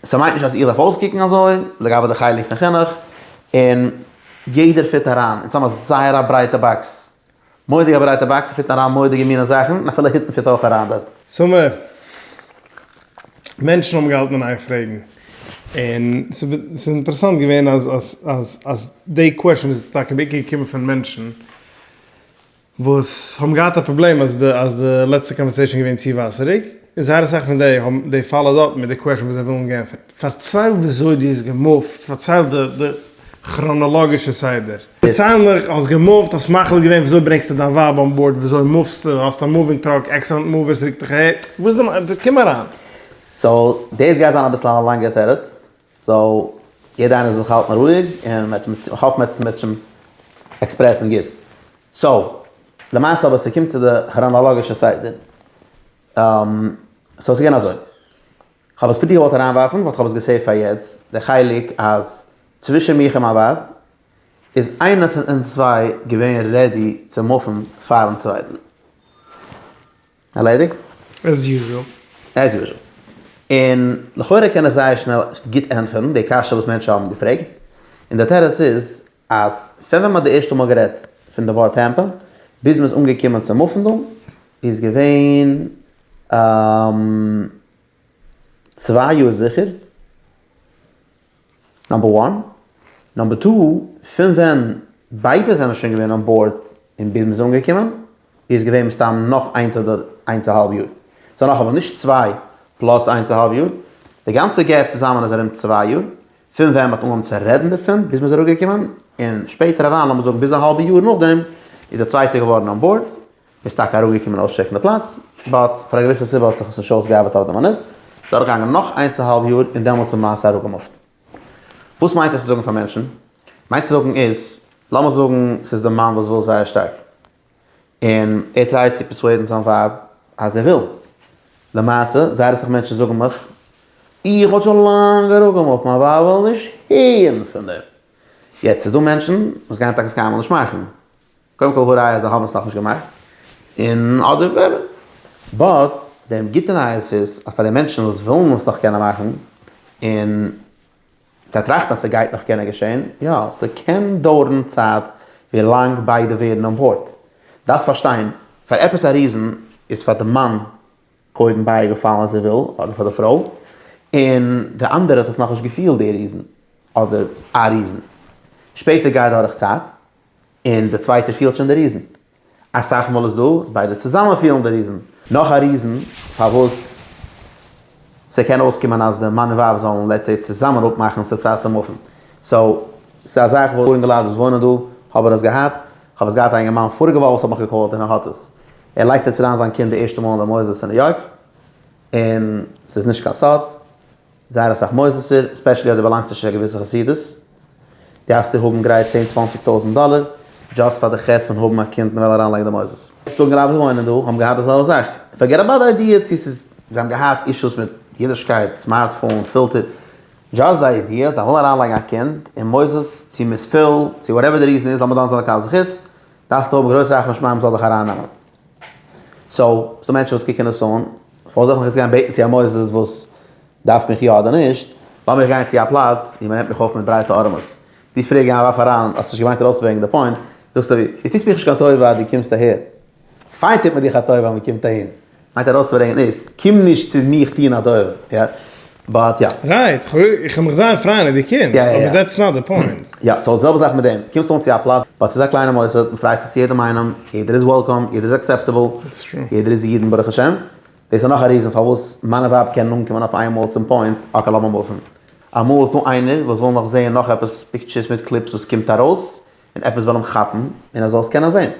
ס'מיינט נישט אז איך דארף אויסקוקן אזוי, לגבי די חלק פון חינוך, און יעדער פיט אריין, אונז האבן א זייער א ברייטע באקס, מורא'דיג א ברייטע באקס, פיטן אריין מורא'דיגע מינע זאכן, און אפילו היטן פיט אויך אריין דארט. סאמע מענטשן האבן געהאלטן אין איין פרעגן, און ס'איז אינטערעסאנט געווען אז אז אז אז די קוועשאן איז טאקע בעיקר געקומען פון מענטשן, וואס האבן געהאט א פראבלעם אז די אז די לעצטע קאנווערסעישן איז געווען צו וואסעריג, און זייער אסאך פון די האבן די פאלאוד אפ מיט די קוועשן וואס זיי ווילן גענפערט. פארצייל וויאזוי דו האסט געמופט, פארצייל די די כראנאלאגישע סדר. פארצייל מיך, האסט געמופט, האסט מחליט געווען וויאזוי ברענגסטו דיין ווייב אן בארד, וויאזוי מופסטו, האסט א מאווינג טראק, עקסידענט מאוו ווער ס'רוקט דיך אהער, וואס איז די מ ד, קום אריין. סאו דאס גייט זיין אביסל א לאנגע תירוץ, סאו יעדע איינער זאל זיך האלטן רואיג און איך האף מען וועט שוין עקספרעסן גוט. סאו למעשה אבער ס'קומט צו די כראנאלאגישע סדר. סאו ס'געווען אזוי. כ'האב עס פריער געוואלט אריינווארפן באט כ'האב עס געסעיווט פאר יעצט, די חלק אז צווישן מיך און מיין ווייב איז איינער פון אונז צוויי געווען רעדי צו מופן פארן צווייטן. ארלעדיגט? עז יוזשעל. עז יוזשעל. און לכאורה קען איך זייער שנעל גוט ענטפערן די קשיא וואס מענטשן האבן געפרעגט, און דער תירוץ איז אז פון ווען מ'האט די ערשטע מאל גערעדט פון די ווארט טעמפא ביז מ'איז אנגעקומען צום אפענדונג איז געווען צוויי יאר זיכער, נאמבער וואן, נאמבער טו, פון ווען ביידע זענען שוין געווען אן באורד און ביז מ'איז אנגעקומען איז געווען מסתם נאך איינס אדער איינס א האלב יאר, סאו נאך אמאל, נישט צוויי פלאס איינס א האלב יאר, די גאנצע געפ צוזאמען איז ארום צוויי יאר, פון ווען מ'האט אנגעהויבן צו רעדן דערפון ביז מ'איז אראפגעקומען, און שפעטער אריין לאמיר זאגן ביז א האלבע יאר נאכדעם איז די צווייטע געווארן אן באורד, איז טאקע אראפגעקומען אויסטשעקן די פלאץ, באט פאר א געוויסע סיבה האט זיך עס נישט אויסגעארבעט אויף די מינוט, איז דורכגעגאנגען נאך איינס א האלב יאר און דעמאלטס איז מעשה אראפגעמופט. וואס מיינט עס צו זאגן פאר מענטשן? מיינט צו זאגן איז, לאמיר זאגן ס'איז די מאן וואס וויל זייער שטארק, און ער טרייט צו פערסועדן זיין ווייב אז ער וויל. למעשה, זייער אסאך מענטשן זאגן מיך, איך האט שוין לאנג אראפגעמופט, מיין ווייב וויל נישט הערן פון דעם. יעצט, ס'איז דא מענטשן וואס גייען טאקע סקיימאל נישט מאכן. קודם כל הוראי אז זיי האבן עס נאכנישט געמאכט, און אדער וואטעווער, באט די גוטע נייעס איז אז פאר די מענטשן וואס ווילן עס נאך קענען מאכן, און זיי טראכטן אז ס'גייט נאך קענען געשען, יא, ס'קען דויערן צייט ווי לאנג ביידע ווערן אן באורד. דארפסט פארשטיין, פאר עפעס א ריזן איז פאר די מאן קודם בייגעפאלן אז ער וויל, אדער פאר די פרוי, און די אנדערע האט עס נאכנישט געפילט די ריזן, אדער א ריזן. שפעטער גייט דורך צייט, און די צווייטע פילט שוין די ריזן. אסאך מאל איז דא וואס ביידע צוזאמען פילן די ריזן. נאך א ריזן פארוואס ס'קען אויסקומען אז די מאן און ווייב זאלן לעטס סעי צוזאמען אפמאכן ס'צייט צו מופן. סאו, ס'איז א זאך וואס אינגעלייט וואס וואוינען דא האבן עס געהאט. כ'האב עס געהאט א אינגערמאן פאריגע וואך וואס האט מיך געקאלט און ער האט עס. ער לייגט יעצט אריין זיין קינד די ערשטע מאל אין די מוסדות אין ניו יארק און ס'איז נישט קיין סוד. זייער אסאך מוסדות'ער, ספעשעלי אויב דו באלאנגסט נישט צו א געוויסע חסידות, גייסטו האבן גרייט צען צוואנציג טויזענט דאלער, דזשאסט פאר די חטא פון האבן א קינד און וועלן אריינלייגן די מוסדות. זאגן רוב וואוינען דא האבן געהאט די זעלבע זאך, פארגעט אבאוט די איידיע צו ס'איז. זיי האבן געהאט אישוס מיט אידישקייט, סמארט פאון, פילטער, דזשאסט די איידיע זיי ווילן אריינלייגן א קינד אין מוסדות צו מ'איז פול, צו וואטעווער די ריזען איז, לאמיר דן זיין לכף זכות, דארפסטו האבן גרויס רחמי שמים זאל דיך ארייננעמען. סאו, ס'דא מענטשן וואס קוקן עס אן, פארוואס זאל איך יעצט גיין בעטן צו א מוסד וואס דארף מיך יא אדער נישט, לאמיך גיין צו א פלאץ ווי מ'נעמט מיך אויף מיט ברייטע ארעמעס. דו פרעג גיי ווארף אריין, האסט נישט געמיינט ארויס וועגן די פוינט, זאגסט אבי, דו טוסט מיך נישט קיין טובה אז דו קומסט אהער. פיין טוט מען דיך א טובה אז מ'קומט אהין. מיינט ארויסברענגען איז, קום נישט צו מיך טון א טובה. באט יא. רייט, איך וועל מיך זייער פרייען אז דו קומסט, אבער דעטס נאט די פוינט. יא, סאו זעלבע זאך מיט דעם, קומסט אן צו א פלאץ, באט ס'איז א קליינע מוסד, מ'פרייט זיך צו יעדעם איינעם, יעדער איז וועלקאם, יעדער איז עקסעפטעבל, יעדער איז אידן ברוך השם, דאס איז נאך א ריזען פארוואס מיינע ווייב קענען אנקומען אויף איינמאל צום פוינט, אקעי לאמיר מופן. אמאל איז דא איינער וואס וויל נאך זעהן נאך עפעס פיקטשערס מיט קליפס וואס קומט ארויס, און עפעס וויל אים כאפן, און ער זאל עס קענען זעהן.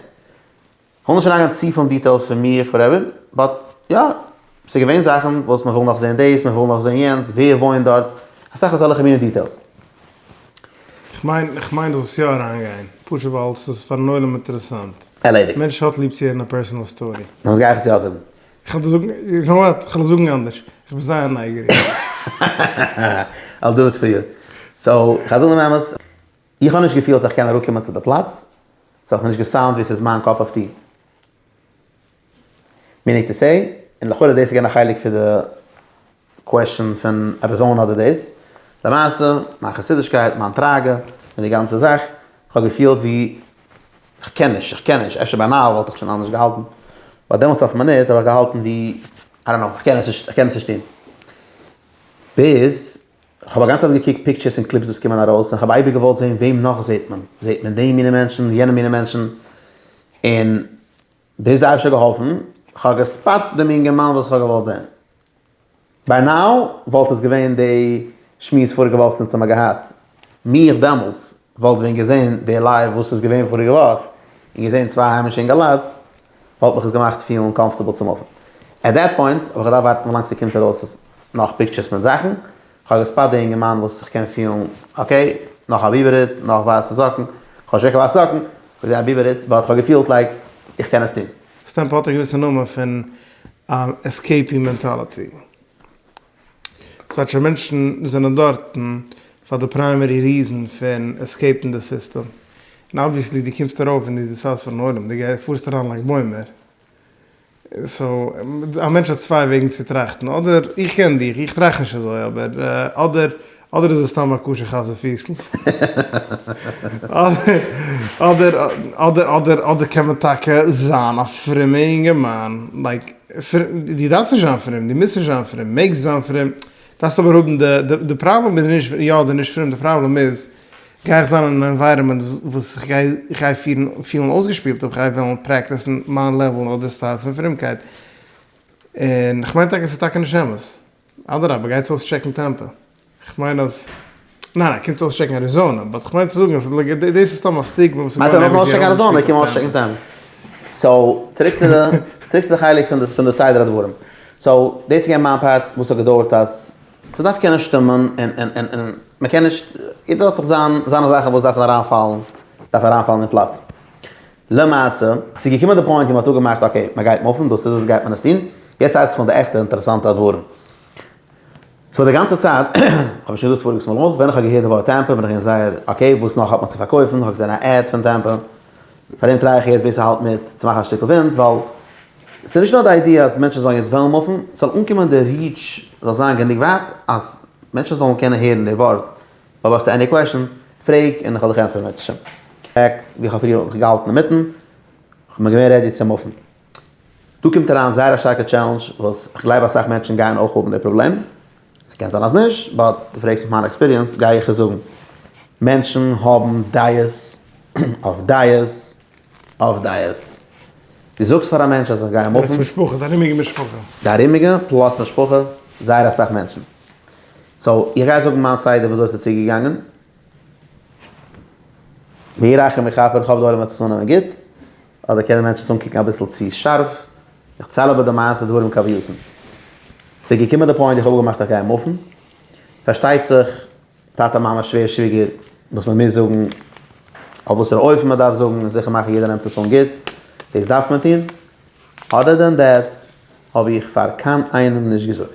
כ'וויל נישט אריינגיין צופיל אין דיטעילס פון מיך וואטעווער, באט יא, ס'איז געווען זאכן וואס מ'וויל נאך זען דאס, מ'וויל נאך זען יענץ, ווער וואוינט דארט, אסאך אזעלכע מינע דיטעילס. כ'מיין, כ'מיין דאס וואס יא אריינגיין, פשוט ווייל ס'איז פארן עולם אינטערעסאנט. ערלעדיגט. מענטש האט ליב צו הערן א פערסאנעל סטארי. נו וואס גיי איך עס יא זאגן? כ'וועל דיר זאגן, יו קנאו וואט, כ'וועל עס זאגן אנדערש, כ'בין זייער נייגעריג. אי'ל דו איט פאר יו. סאו, כ'וועל זאגן דעם אמת, איך האב נישט געפילט אז כ'קען אראפקומען צו די פלאץ, ס'האט מיר נישט געסאונד ווי ס'איז מיין קאפ אף טי. מיענינג טו סעי, און לכאורה דאס איז געווען א חלק פון די קוועשאן פון אריזאנע אדער דאס. למעשה, מיין חסידישקייט, מיין טראגע, און די גאנצע זאך, כ'האב געפילט ווי כ'קען נישט, איך קען נישט, אפשר ביי נאו וואלט איך שוין אנדערש געהאלטן, באט דעמאלטס אויף מינוט האב איך געהאלטן ווי, איי דאנט נאו, כ'קען עס נישט, כ'קען עס נישט טון. ביז כ'האב א גאנצע צייט געקוקט פיקטשערס און קליפס וואס קומען ארויס און כ'האב אייביג געוואלט זען וועם נאך זעט מען, זעט מען די מינע מענטשן און יענע מינע מענטשן, און ביז די אייבישטער האט געהאלפן כ'האב געספאט דעם אינגערמאן וואס כ'האב געוואלט זען. ביי נאו וואלט עס געווען די שמועס פאריגע וואך זינט האמער געהאט. מי איך דעמאלטס וואלט ווען געזען די לייוו וואס איז געווען פאריגע וואך, און געזען צוויי היימישע אינגעלייט, וואלט מיך עס געמאכט פילן קאמפארטעבל צום אופן. עט דעט פוינט האב איך געדארפט ווארטן ווילאנג ס'קומט ארויס נאך פיקטשערס מיט זאכן, כ'האב געספאט די אינגערמאן וואס איך קען פילן אקעי, נאך א ביבער הוט, נאך ווייסע זאקן, כ'האב נישט געקענט ווייסע זאקן, כ'זעה א ביבער הוט, באט כ'האב געפילט לייק איך קען עס טון. סטעמפ האט א געוויסע נאמען פון אן עסקעיפי מענטאליטי. ס'טייטש אז מענטשן זענען דארטן פאר די פריימערי ריזען פון עסקעיפן די סיסטעם, און אבוויעסלי דו קומסט ארויף און דו דיסיידסט פארן עולם, דו גייסט פארסט אריין לייק בוימער, סאו א מענטש האט צוויי וועגן צו טראכטן, אדער איך קען דיך, איך טראכט נישט אזוי, אבער אדער. אדער איז עס סתם א כשר חזיר פיסל, אדער אדער אדער אדער קען מען טאקע זיין א פרומע אינגערמאן, לייק דו דארפסט נישט זיין פרום, דו מוזט נישט זיין פרום, מעגסט זיין פרום, דארפסט אבער האבן די, די פראבלעם איז נישט יא אדער נישט פרום, די פראבלעם איז, גיי איך זיין אין א ענווייראמענט וואס איך גיי איך גיי פירן פילן אויסגעשפילט אויב איך גיי וועלן פרעקטיסן מיין לעוועל אדער סטייל פון פרומקייט, און כ'מיין טאקע ס'איז טאקע נישט אמת. אדרבה גייטס אויסטשעקן טעמפע, כ'מיין אז, ניין ניין קומטס אויסטשעקן אריזאנע, באט כ'מיין צו זאגן אז דאס איז סתם א סטיגמע וואס איז געווארן עווערי יער אנדערש קומט אויסטשעקן טעמפע. סאו צוריק צו די צוריק צו די חלק פון די פון די סדר הדברים, סאו דאס איז געווען מיין פארט וואס האט געדויערט אז ס'דארף קענען שטומען און און און און מ'קען נישט, יעדער האט זיך זיין זיינע זאכן וואס דארפן אריינפאלן דארף אריינפאלן אין פלאץ. למעשה, ס'איז געקומען די פוינט ווי מ'האט אפגעמאכט אקעי, מ'גייט מופן, דאס איז עס, גייט מען עס טון. יעצט הייבט זיך אן די עכטע אינטערעסאנטע אדווארן. סאו די גאנצע צייט, האב איך שוין געזאגט פאריגס מאל אויך, ווען איך האב געהערט די ווארט טעמפא בין איך געווען זייער אקעי, וואס נאך האט מען צו פארקויפן, איך האב געזען א עד פון טעמפא, פאר דעם טריי איך יעצט בעיס האלט מיט, צו מאכן א שטיקל ווינט, ווייל ס'איז נישט נאר די איידיע אז מענטשן זאלן יעצט וועלן מופן, ס'זאל אנקומען די ריעטש זאל זיין גענוג ווייט אז מענטשן זאלן קענען הערן די ווארט אויב האסטו עני קוועשאן פרעג און כ'וועל דיך ענטפערן בעזרת השם. פאקט ווי כ'האב פריער געהאלטן אינמיטן, כ'בין געווען רעדי צו מופן. דא קומט אריין זייער א שטארקע טשעלענדזש וואס כ'גלייב אסאך מענטשן גייען אויך האבן די פראבלעם, ס'קען זיין אז נישט, באט דו פרעגסט מיך מיין עקספיריענס גיי איך עס זאגן. מענטשן האבן דייעס אויף דייעס אויף דייעס. דו זאגסט פאר א מענטש אז איך גיי מופן. דער עצם משפחה, די ארומיגע משפחה. די ארומיגע פלאס משפחה, זייער אסאך מענטשן. סאו איך גיי זאגן מיין סדר וויאזוי ס'איז צוגעגאנגען. ויהי רחם יכפר, איך האף די עולם וועט עס אננעמען גוט. אדער קענען מענטשן עס אנקוקן אביסל צו שארף. איך צייל אבער די מעשה דברים כהווייתן. ס'איז געקומען די פוינט איך האב אפגעמאכט איך גיי מופן. פארשטייט זיך טאטע מאמע שווער שוויגער וואס מען מוז זאגן. אויף וואסערע אופן מען דארף זאגן און זיכער מאכן יעדער נעמט עס אן גוט. דאס דארף מען טון. אדער דען דעט האב איך פאר קיין איינעם נישט געזאגט.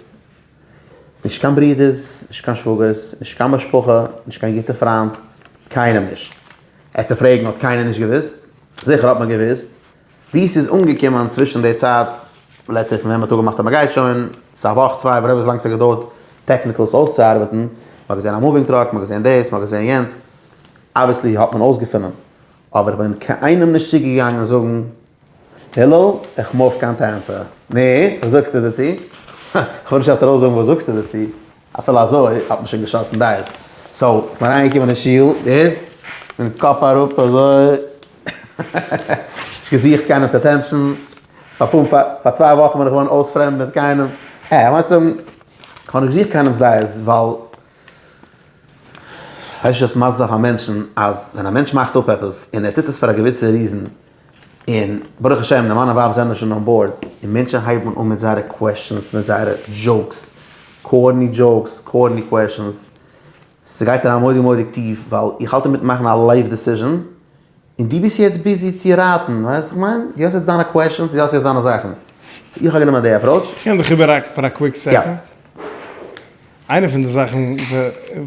נישט קיין ברודערס, נישט קיין שוואגערס, נישט קיין משפחה, נישט קיין גוטע פריינט, קיינעם נישט. העסטו פרעגן האט קיינער נישט געוואוסט? זיכער האט מען געוואוסט. ווי ס'איז אנגעקומען צווישן די צייט, לעטס סעי פון ווען מ'האט אפגעמאכט אז מ'גייט שוין, ס'איז א וואך צוויי וואטעווער וויזלאנג ס'האט געדויערט טעקניקעלס אויסצוארבעטן, מ'האט געזען א מאווינג טראק, מ'האט געזען דאס, מ'האט געזען יענץ, אבוויעסלי האט מען אויסגעפונען. אבער איך בין קיינעם נישט צוגעגאנגען זאגן הלל איך מוף קיין טעמפע. נו, וואס זאגסטו דערצו? הא, כ'וועל נישט עכט ארויסזאגן וואס זאגסטו דערצו, אפילו אזוי האט מען שוין געשאסן דייס. סאו, איך בין אריינגעקומען אין שול, דו הערסט? מיט קאפ אראפ אזוי, נישט געזוכט קיינעמ'ס אטענשאן, פאר פאר פאר צוויי וואכן בין איך געווארן אויס פרעמד מיט קיינעם. אה, כ'מיין צו זאגן, כ'האב נישט געזוכט קיינעמ'ס דעות, ווייל הייסט נישט אז מיינסט אויף א מענטשן אז ווען א מענטש מאכט אפ עפעס און ער טוט עס פאר א געוויסע ריזען און ברוך השם די מאן און ווייב זענען שוין אן באורד און מענטשן הייבן אן מיט זייערע קוועשאנס מיט זייערע דזשאוקס קארני דזשאוקס קארני קוועשאנס ס'גייט אריין מורא'דיג מורא'דיג טיף ווייל איך האלט אינמיטן מאכן א לייף דעסיזשען. און דו ביסט יעצט ביזי צו רייטן, ווייסט וואס איך מיין? דו האסט יעצט דיינע קוועשאנס, דו האסט יעצט דיינע זאכן. סאו איך האב גענומען די עפראוטש. איך קען דיך איבער ראקן פאר א קוויק סעקאנד. איינע פון די זאכן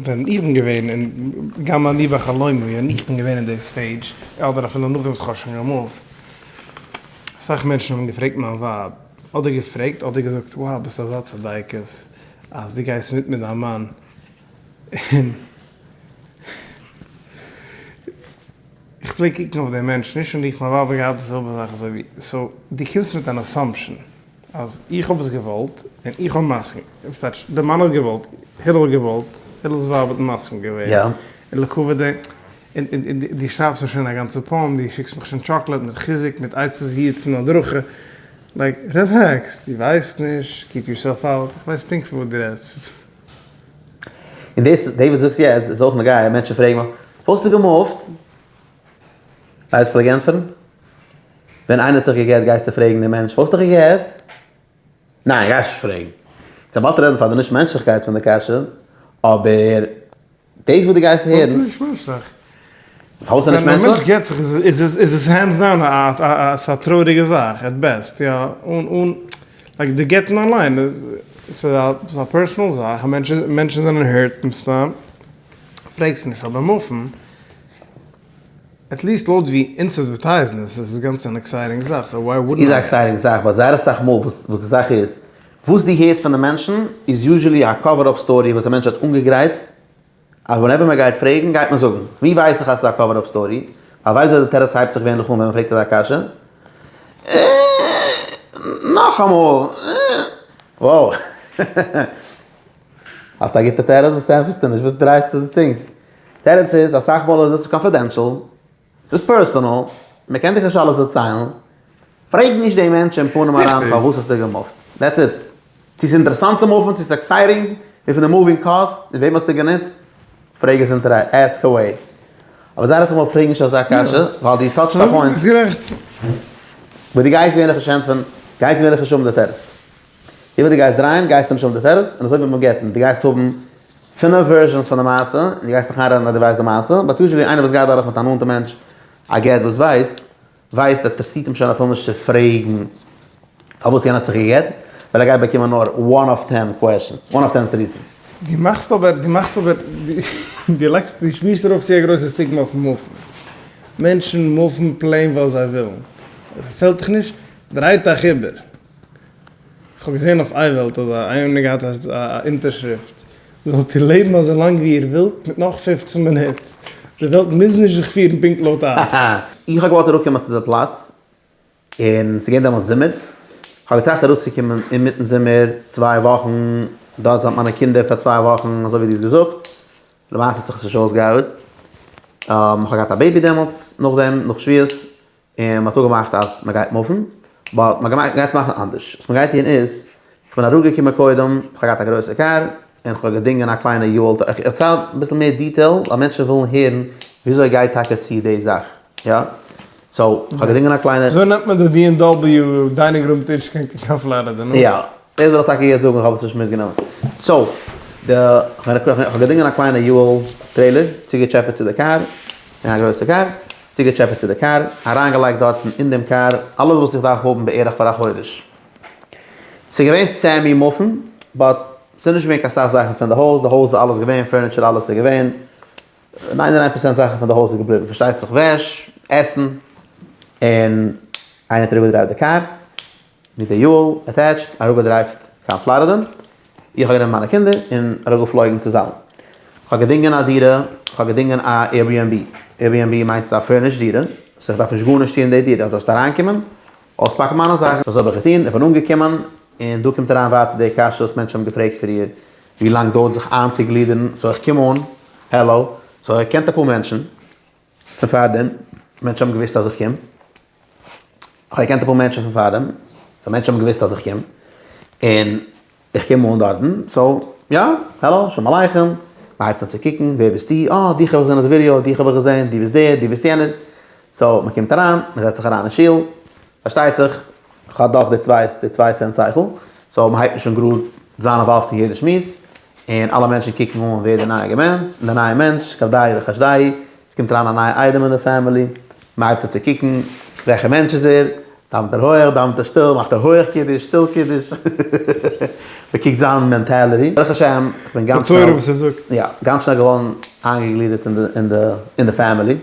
ווען איך בין געווען אין, גם אני בחלומי, ווען איך בין געווען אין די סטעידזש, אדער אפילו נאכדעם וואס איך האב שוין געמופט, אסאך מענטשן האבן געפרעגט מיין ווייב, אדער געפרעגט אדער געזאגט, wow ביסט אזא צדיקת אז דו גייסט מיט מיט דיין מאן. איך פלעג קוקן אויף די מענטשן, נישט און איך מיין ווייב האט געהאט די זעלבע זאך אזוי ווי, סאו דו קומסט מיט אן אסאמפשען אז איך האב עס געוואלט און איך האב מסכים, וואס טייטש די מאן האט געוואלט, הילל האט געוואלט, הילל'ס ווייב האט מסכים געווען, און לקו ו די, און און דו שרייבסט מיר שוין א גאנצע פאום, דו שיקסט מיך שוין טשאקלעד מיט חיזוק מיט עצות יעוץ און הדרכה, לייק רילעקס, דו ווייסט נישט, קיפ יורסעלף אאוט, איך ווייס פונקט פון וואס דו רעדסט. און דאס דעי וואס זאגסט יעצט איז אויך נוגע, מענטשן פרעגן מיך, וואס האסטו געמופט? ווייסט וואס כ'פלעג ענטפערן? ווען איינער האט זיך גע'גט גייסטו פרעגן דעם מענטש, וואס האסטו גע'גט? ניין, גייסט נישט פרעגן. צו באלד רעדן פאר די נישט מענטשליכקייט פון די קשיא, אבער דאס וואס דו גייסט הערן. דאס איז נישט מענטשליך. פארוואס איז עס נישט מענטשליך? ווען א מענטש גט זיך איז איז עס הענדס דאון א טרויעריגע זאך עט בעסט, יא, אן אן לייק די גט'ן אליין ס'איז א פערסאנעל זאך, מענטשן זענען הערט מסתם, פרעגסט נישט, אבער מופן, עט ליעסט לויט ווי אונז עדווערטייזן עס, איז עס גאנץ אן עקסייטינג זאך, סאו וויי וואודנט איי? ס'איז א עקסייטינג זאך, באט זייער אסאך מאל וואס די זאך איז, וואס דו הערסט פון די מענטשן איז יוזשעלי א קאווער אפ סטארי וואס א מענטש האט אנגעגרייט אז ווענעווער מען גייט פרעגן גייט מען זאגן. ווי ווייס איך אז ס'איז א קאווער אפ סטארי? א ווייסט ווער די תירוץ הייבט זיך געווענליך אן ווען מען פרעגט אזא קשיא? אה. נאכאמאל אה. וואו. האסט א גוטע תירוץ וואס ענטפערסטו נישט? וואס דרייסטו די צונג? תירוץ איז אסאך מאל איז עס קאנפידענשאל. ס'איז פערסאנעל, מען קען דיך נישט אלעס דערציילן, פרעג נישט די מענטש אין פנים אריין פארוואס האסטו געמופט, דעטס איט, צו ס'איז אינטערעסאנט צו מופן, צו ס'איז עקסייטינג, וויפיל די מופינג קאסט, און וועם האסטו גענוצט, פרעג עס אינטערעסאנט, עסק עוועי, אבער זייער אסאך מאל פרעג נישט אזא קשיא, ווייל דו טאטשט א פוינט, וואס דו גייסט געווענליך נישט ענטפערן, גייסט געווענליך נישט האבן די תירוץ. ווי אימער דו גייסט דרייען גייסטו נישט האבן די תירוץ, און אזוי ווי מיט גט'ן, דו גייסט האבן פינף ווערזשענס פון די מעשה, און דו גייסט דיך איינרעדן אז דו ווייסט די מעשה, באט יוזשעלי איינער וואס גייט דורך מיט א נאנטע מענטש א גט וואס ווייסט, ווייסט אז פאסירט אים שוין אפילו נישט צו פרעגן פארוואס יענער האט זיך גע'גט, ווייל ער גייט באקומען נאר וואן אויף טען קוועשאנס, וואן אויף טען תירוצים. דו מאכסט אבער, דו מאכסט אבער, דו לייגסט, דו שמירסט ארויף צו א גרויסע סטיגמא אויפן מופן. מענטשן מופן פלעין ווייל זיי ווילן. עס געפעלט דיך נישט? דריי דיך איבער. כ'האב געזען אויף אייוועלט אז איינער האט געהאט א אונטערשריפט, זאלט איר לעבן אזוי לאנג ווי איר ווילט מיט נאך פֿופֿצן מינוט, די וועלט מוז נישט זיך פירן פונקט לויט אייך. איך האב געוואלט אראפקומען צו די פלאץ, און ס'איז געווען דעמאלטס זומער, כ'האב געטראכט אראפצוקומען אינמיטן זומער, צוויי וואכן דארט זיין מיט מיינע קינדער פאר צוויי וואכן אזוי ווי דו האסט געזאגט, למעשה האט זיך עס נישט אויסגעארבעט, כ'האב געהאט א בעיבי דעמאלטס, נאכדעם נאך שבועות, און מען האט אפגעמאכט אז מען גייט מופן, באט מען גייט יעצט מאכן אנדערש, וואס מען גייט טון איז, איך בין אראפגעקומען קודם, איך האב געהאט א גרויסע קאר, און איך האב געדינגען א קליינע יו האול, איך דערצייל אביסל מער דיטעיל ווייל מענטשן ווילן הערן וויאזוי גייט טאקע צו די זאך, יא, סאו איך האב געדינגען א קליינע. אזוי נעמט מען די בי עם דאבעליו דיינינג רום טיש קיין קיין פלארידע, נו. יא, דאס וויל איך טאקע יעצט זאגן, איך האב עס נישט מיטגענומען, סאו די, איך האב געדינגען א קליינע יו האול טרעילער, צוגעטשעפעט צו די קאר, און א גרויסע קאר. צוגעטשעפעט צו די קאר, אריינגעלייגט דארטן אין דעם קאר אלעס וואס איך דארף האבן בערך פאר א חודש. ס'איז געווען סעמי מופן, באט ס'איז נישט געווען קיין סאך זאכן פון די הויז, די הויז איז אלעס געווען, פערניטשער אלעס איז געווען, נײַן און איין פראצענט זאכן פון די הויז איז געבליבן, פארשטייט זיך וועש, עסן, און איינער האט אראפגעדרייווט די קאר. מיט די יואל עטעטשט אראפגעדרייווט קיין פלארידע, איך האב גענומען מיינע קינדער און אראפגעפלויגן צו זאלין, איך האב געדינגען א דירה, איך האב געדינגען א עירביענבי, עירביענבי מיינט ס'איז א פורנישט דירה, סאו איך דארף נישט גארנישט טון אין די דירה, איך דארף זשאסט אריינקומען, אויספאקן מיינע זאכן, סאו אזוי האב איך געטון, איך בין אנגעקומען, און דא קומט אריין ווייטער די קשיא וואס מענטשן האבן געפרעגט פריער, ווי לאנג דויערט זיך איינצוגלידערן, סאו איך קום אן, העלא, סאו ער קענט אפאר מענטשן, פון פארדעם, מענטשן האבן געוואוסט אז איך קום, כ'האב געקענט אפאר מענטשן פון פארדעם, סאו מענטשן האבן געוואוסט אז איך קום, און איך קום אן דארטן, סאו יא, העלא, שלום עליכם, מ'הייבט אן צו קוקן, ווער ביסטו, אה, דיך האב איך געזען אויף די ווידיאו, דיך האב איך געזען, דו ביסט דער, דו ביסט יענער, סאו מ'קומט אריין, מ'זעצט זיך אריין אין שול, פארשטייט זיך כ'האב דאך די צוויי די צוויי סענט שכל, סאו מ'הייבט נישט אן גראד זיין אינוואלווד אין יעדע שמועס, און אלע מענטשן קוקן אן ווער די נייע געמענ די נייע מענטש, כבדאי וחשדאי, עס קומט אריין א נייע איידעם אין די פעמילי, מ'הייבט אן צו קוקן וועלכע מענטש איז ער, דאוונט ער הויעך, דאווענט ער שטיל, מאכט ער הויעך קידוש, שטיל קידוש, מ'קוקט זיין מענטעליטי, ברוך השם כ'בין גאנץ שנעל, יא, גאנץ שנעל געווארן איינגעגלידערט אין די אין די פעמילי.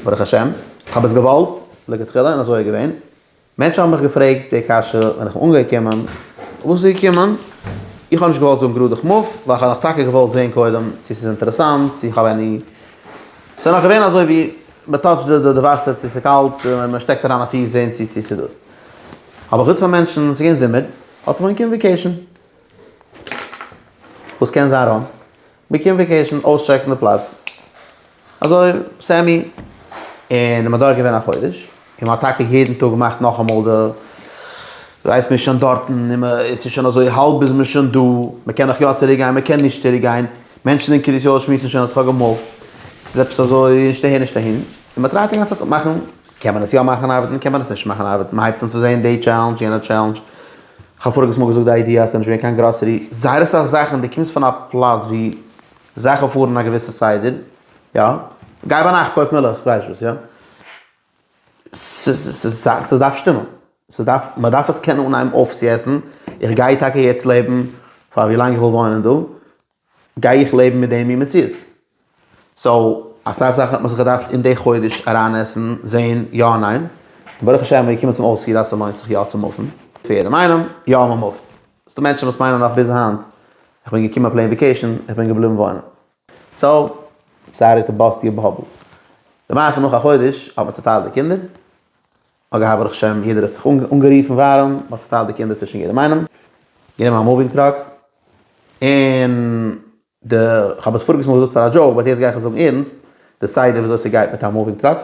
ברוך השם, כ'האב עס געוואלט לכתחילה און אזוי איז געווען. מענטשן האבן מיך געפרעגט די קשיא ווען איך בין אנגעקומען, וואס איז געקומען? איך האב נישט געוואלט זאגן גראדע כ'מופ, ווייל כ'האב נאך טאקע געוואלט זען קודם צו ס'איז אינטערעסאנט, צו איך האב עני. ס'איז נאך געווען אזוי ווי מ'טאטשט די די וואסער צו ס'איז קאלט, מ'שטעקט אריין א פיס זען צו צו ס'איז דאס. אבער חוץ פון מענטשן, ס'איז געווען זומער, האט מען געקומען וויקעישן. וואס קען זיין ראנג? מען קען וועקעישן אויסטשעקן די פלאץ אזוי סעמי, און מען האט דארט געווען א חודש, און מען האט טאקע יעדן טאג געמאכט נאכאמאל די רייז, מען איז שוין דארטן און מען עס איז שוין אזוי האלב איז מען שוין דא, מען קען נאך יא צוריק גיין מען קען נישט צוריק גיין, מענטשן אין קרית יואל שמועסן שוין אז כ'האב געמאפט, עס איז עפעס אזוי נישט אהער נישט אהין, און מען טרייט די גאנצע צייט אפמאכן, קען מען עס יא מאכן ארבעטן קען מען עס נישט מאכן ארבעטן, מען הייבט אן צו זען די טשעלענדזש יענע טשעלענדזש, כ'האב פאריגעס מאל געזאגט די איידיע אז ס'איז נישט געווען קיין גראסערי, זייער אסאך זאכן, דו קומסט פון א פלאץ ווי זאכן פארן א געוויסע סדר, יא, גיי ביינאכט קויף מילך, איך ווייס וואס, יא, ס'דארף שטימען, ס'דארף, מ'דארף עס קענען אנהייבן אויפצועסן, איך גיי טאקע יעצט לעבן פאר ווי לאנג איך וויל וואוינען דא. גיי איך לעבן מיט די מין מציאות? סאו אסאך זאכן האט מען זיך געדארפט אין די חודש אריינעסן, זעהן יא און ניין, און ברוך השם מיר געקומען צום אויספיר אז ס'לוינט זיך יא צו מופן, פער די מיינונג, יא מען מופט, ס'דא מענטשן וואס מיינען נאך ביז היינט, איך בין געקומען פלעין וועקעישן, איך בין געבליבן וואוינען. סאו סארי טו באסט יור באבל. למעשה נאך א חודש האט מען צוטיילט די קינדער, אגב ברוך השם יעדער האט זיך אנגערופן ווארעם, מען האט צוטיילט די קינדער צווישן יעדעם איינעם, גענומען א מאווינג טראק, און די, כ'האב עס פאריגס מאל געזאגט פאר א דזשאוק באט יעצט גיי איך עס זאגן ערנסט, די סדר ווי אזוי ס'גייט מיט א מאווינג טראק,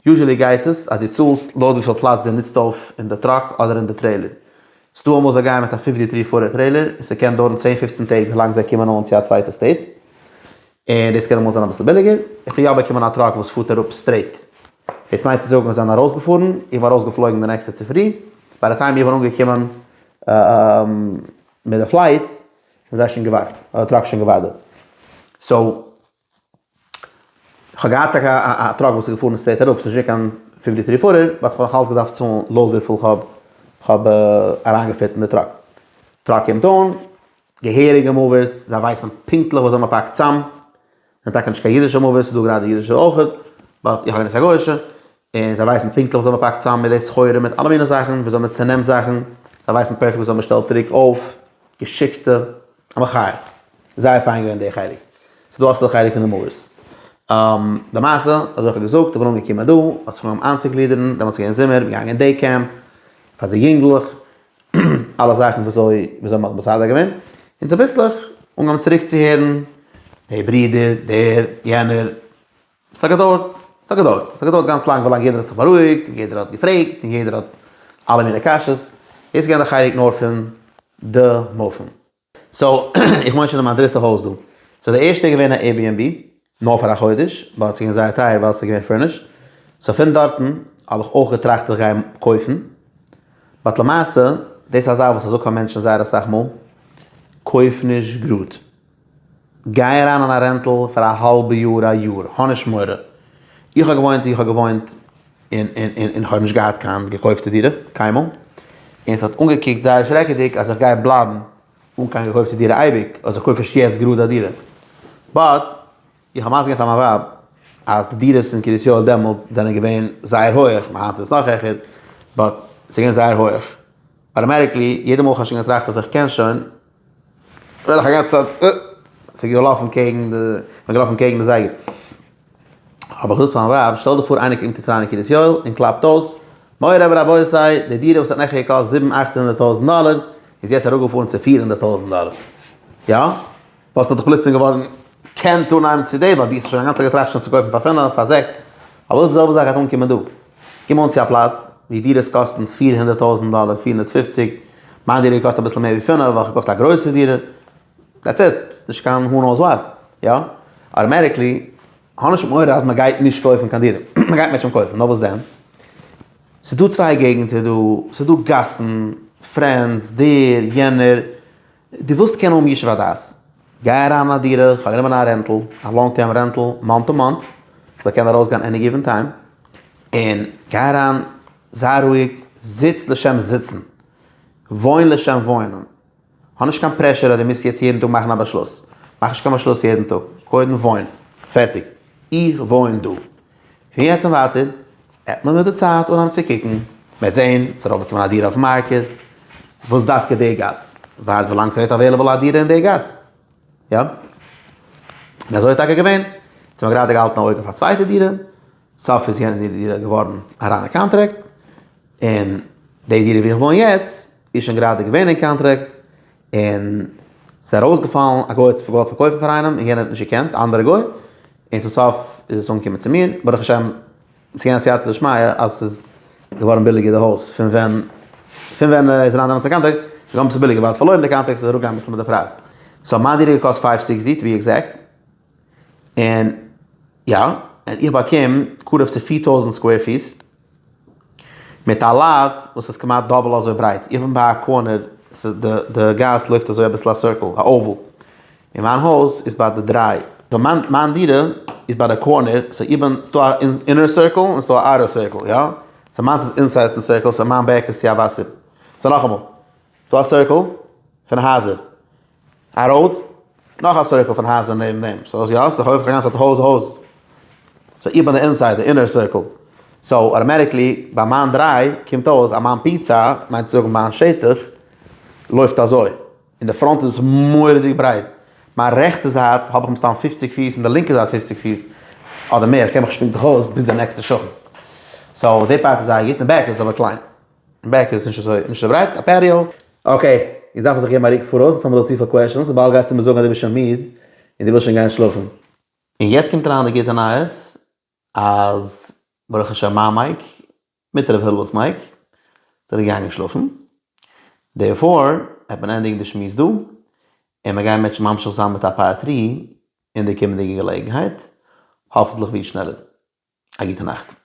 יוזשעלי גייט עס אז דו צאלסט לויט וויפיל פלאץ דו נוצט אויף אין די טראק אדער אין די טרעילער, ס'דא אמאל זיי גייען מיט א פיפטי טרי פוטער טרעילער און ס'קען דויערן צען פופצן טעג ווילאנג זיי קומען אן צו א צווייטע סטעיט, און דאס קען אמאל זיין אביסל ביליגער, איך האב יא באקומען א טראק וואס פארט אראפ סטרעיט, דאס מיינט צו זאגן זיי זענען ארויסגעפארן, איך בין ארויסגעפלויגן די נעקסטע צופרי, ביי די טיים איך בין אנגעקומען מיט די פלייט האבן זיי שוין געווארט, האט די טראק שוין געווארט דארט, סאו איך האב געהאט טאקע א טראק וואס איז געפארן סטרעיט אראפ, ס'איז נישט געווען קיין פיפטי טרי פוטער, באט איך האב נאכאלץ געדארפט צאלן לויט וויפיל איך האב אריינגעפיט אין די טראק, טראק קומט אן, געהעריגע מאוויס, זיי ווייסן פונקטליך וואס זיי האבן געפאקט צאם, ס'זענען טאקע נישט קיין אידישע מאוויס, ס'איז דא גראדע אידישע אויך, באט איך האב גענוצט א גויאישע, און זיי ווייסן פונקטליך וואס זיי האבן געפאקט צאם מיט די סחורה, מיט אלע מיני זאכן, ווי אזוי מען צענעמט זאכן, זיי ווייסן פערפעקט וואס זיי האבן באשטעלט צוריק אויף, געשיקטע, א מחיה, זייער פיין געווען די חלק, ס'איז דא אסאך חלק פון די מאוויס. די מעשה, אזוי איך האב געזאגט, איך בין אנגעקומען דא, האט זיך אנגעהויבן איינצוקלידערן, דעמאלטס איז געווען זומער, מיר געגאנגען דעי קעמפ, פאר די יונגלעך, אלע זאכן וואס אוי וואס זיי האבן בסדר געווען, און צוביסלעך אנגעהויבן צוריק צו הערן דער ברודער, דער, יענער, עס האט געדויערט, עס האט געדויערט, עס האט געדויערט גאנץ לאנג ווילאנג יעדער האט זיך בארואיגט און יעדער האט געפרעגט און יעדער האט אלע מיני קשיא'ס, דאס איז געווען די חלק נאר פון די מופן. סאו איך וואוין שוין אין מיין דריטע הויז דא. סאו די ערשטע איז געווען א עיר ביען בי, נאר פאר א חודש, באט ס'געווען זייער טייער ווייל ס'איז געווען פורנישט, סאו פון דארטן האב איך אויך געטראכט איך גיי קויפן, באט למעשה, דאס איז א זאך וואס איך זאג פאר מענטשן זייער אסאך מאל, קויף נישט גראד. גיי אריין אין א רענטל פאר א האלבע יאר א יאר, האב נישט מורא, איך האב געוואוינט ווי איך האב געוואוינט און און איך האב נישט געהאט קיין געקויפטע דירה קיינמאל, און עס האט אנגעקוקט זייער שרעקעדיג אז איך גיי בלייבן אן קיין געקויפטע דירה אייביג, אלזא קויף איך יעצט גראד א דירה, באט איך האב מזכיר געווען פאר מיין ווייב אז די דירות אין קרית יואל דעמאלטס זענען געווען זייער הויעך, און היינט איז עס נאך העכער, באט עס איז געווען זייער הויעך, אטאמעטיקלי יעדע מאל איך האב שוין געטראכט אז איך קען שוין. נאך א גאנצע צייט אה, ס'איז געלאפן קעגן די, מ'איז געלאפן קעגן די זייגער. האב איך געזאגט פאר מיין ווייב, שטעל דיך פאר איינער קומט יעצט אריין אין קרית יואל און קלאפט אויס, מורי ורבותי, די דירה וואס האט נעכטן געקאסט זיבן אכט הונדערט טויזנט דאלער, איז יעצט אראפגעפארן צו פֿיר הונדערט טויזנט דאלער. יא? וואלסטו דיך פלוצלינג געווארן קענט אנהייבן צו דעבאטירן, האסט שוין אינגאנצן געטראכט שוין צו קויפן פאר פינף, פאר זעקס, אבער אויב די זעלבע זאך גייט אנקומען דא, קום אן צו א פלאץ וואו דירות קאסטן פֿיר הונדערט טויזענט דאלער, פֿיר הונדערט פֿופֿציק, מיין דירה קאסט אביסל מער ווי פֿינף, ווייל כ'האב געקויפט א גרויסע דירה, דעטס איט, נישט קיין הו נאוס וואט, יא? אוטאמעטיקלי, האב נישט מורא אז מ'גייט נישט קויפן קיין דירה, מ'גייט מער שוין קויפן, נאר וואס דען? ס'איז דא צוויי געגנטער דא, ס'איז דא גאסן, פרענדס, דער, יענער, דו ווילסט קענען האבן ישוב הדעת, גיי אריין אין א דירה, איך האב גענומען א רענטל, א לאנג טערם רענטל, מאנט טו מאנט, איך זאל קענען ארויסגיין עני גיווען טיים, און גיי אריין, זיי רואיג, זיץ לשם זיצן, וואוין לשם וואוינען, האב נישט קיין פרעשור אז דו מוזט יעצט יעדן טאג מאכן א באשלוס, מאך נישט קיין באשלוס יעדן טאג, קודם וואוין, פערטיג, איך וואוין דא, פון יעצט און ווייטער וועט מען מיט די צייט אנהייבן צו קוקן, מ'וועט זען, ס'וועט ארויפקומען א דירה אויפן מארקעט, וואס דווקא די גאס? ווארט ווילאנג ס'ווערט אוועילעבל א דירה אין די גאס, יא? און אזוי איז טאקע געווען, יעצט האבן מיר גראדע געהאלטן א אויג אויף א צווייטע דירה, סוף איז יענע דירה געווארן א ריינע קאנטראקט, און די דירה ווי איך וואוין יעצט איז שוין גראדע געווען אין קאנטרעקט און ס'איז ארויסגעפאלן, א גוי האט עס געוואלט פארקויפן פאר איינעם און יענער האט נישט געקענט, א אנדערע גוי, און צום סוף איז עס אנגעקומען צו מיר, ברוך השם ס'איז געווען א סייעתא דשמיא אז ס'איז געווארן ביליגער די הויז פון ווען פון ווען ער איז אריין דעמאלטס אין קאנטרעקט, ס'איז געווארן אביסל ביליגער ווייל ער האט פארלוירן די קאנטרעקט ס'איז אראפגעגאנגען אביסל מיט די פרייז, סאו מיין דירה האט געקאסט פֿינף הונדערט זיבעציק ווי עקזעקט. און יא, און איך באקום קרוב צו פֿיר טויזנט סקווער פיס, מיט א לאט וואס איז כמעט דאבל אזוי ברייט, איך בין ביי א קארנער, די גאס לויפט אזוי אביסל א סירקל, א אוועל, און מיין הויז איז ביי די דריי, מיין דירה איז ביי די קארנער, סאו איך בין, ס'דא א אינער סירקל און ס'דא א אוטער סירקל, יא, סאו מיינס איז אינסייד די סירקל, סאו מיין בעק איז צו א וואסער, סאו נאכאמאל, ס'דא א סירקל פון הייזער. א ראוד, נאך א סירקל פון הייזער נעבן דעם, סאו יא, ס'איז הויז, כ'האב געזאגט הויז הויז, סאו איך בין די אינסייד, די אינער סירקל, סאו אטאמעטיקלי ביי מיין דריי קומט אויס אז מיין פיצא, מיינט צו זאגן מיין שטח, לויפט אזוי, אין די פראנט איז עס מורא'דיג ברייט, מיין רעכטע זייט האב איך מסתם פופציג פיס און די לינקע זייט פופציג פיס, אדער מער, כ'קען מיך שפינקען זיך אויס ביז די נעקסטע שכן, סאו די פארט איז זייער גוט, און בעק איז אבער קליין. בעק איז נישט אזוי נישט אזוי ברייט א פעטיאו. אקעי, יעצט דארף מען זיך געבן א רוק פאראויס נישט צו האבן אזוי צופיל קוועשאנס וויבאלד גייסטו מיר זאגן אז דו ביסט שוין מיד און דו ווילסט שוין גיין שלאפן. און יעצט קומט אריין די גוטע נייעס אז ברוך השם מיין מייק מיט ר' הילל'ס מייק זענען געגאנגען שלאפן דערפאר העט מען ענדיגן די שמועס דא און מיר גייען מענטשן ממשיך זיין מיט א פארט טרי אין די קומענדיגע געלעגנהייט האפנטליך ווי שנעלער א גוטע נאכט.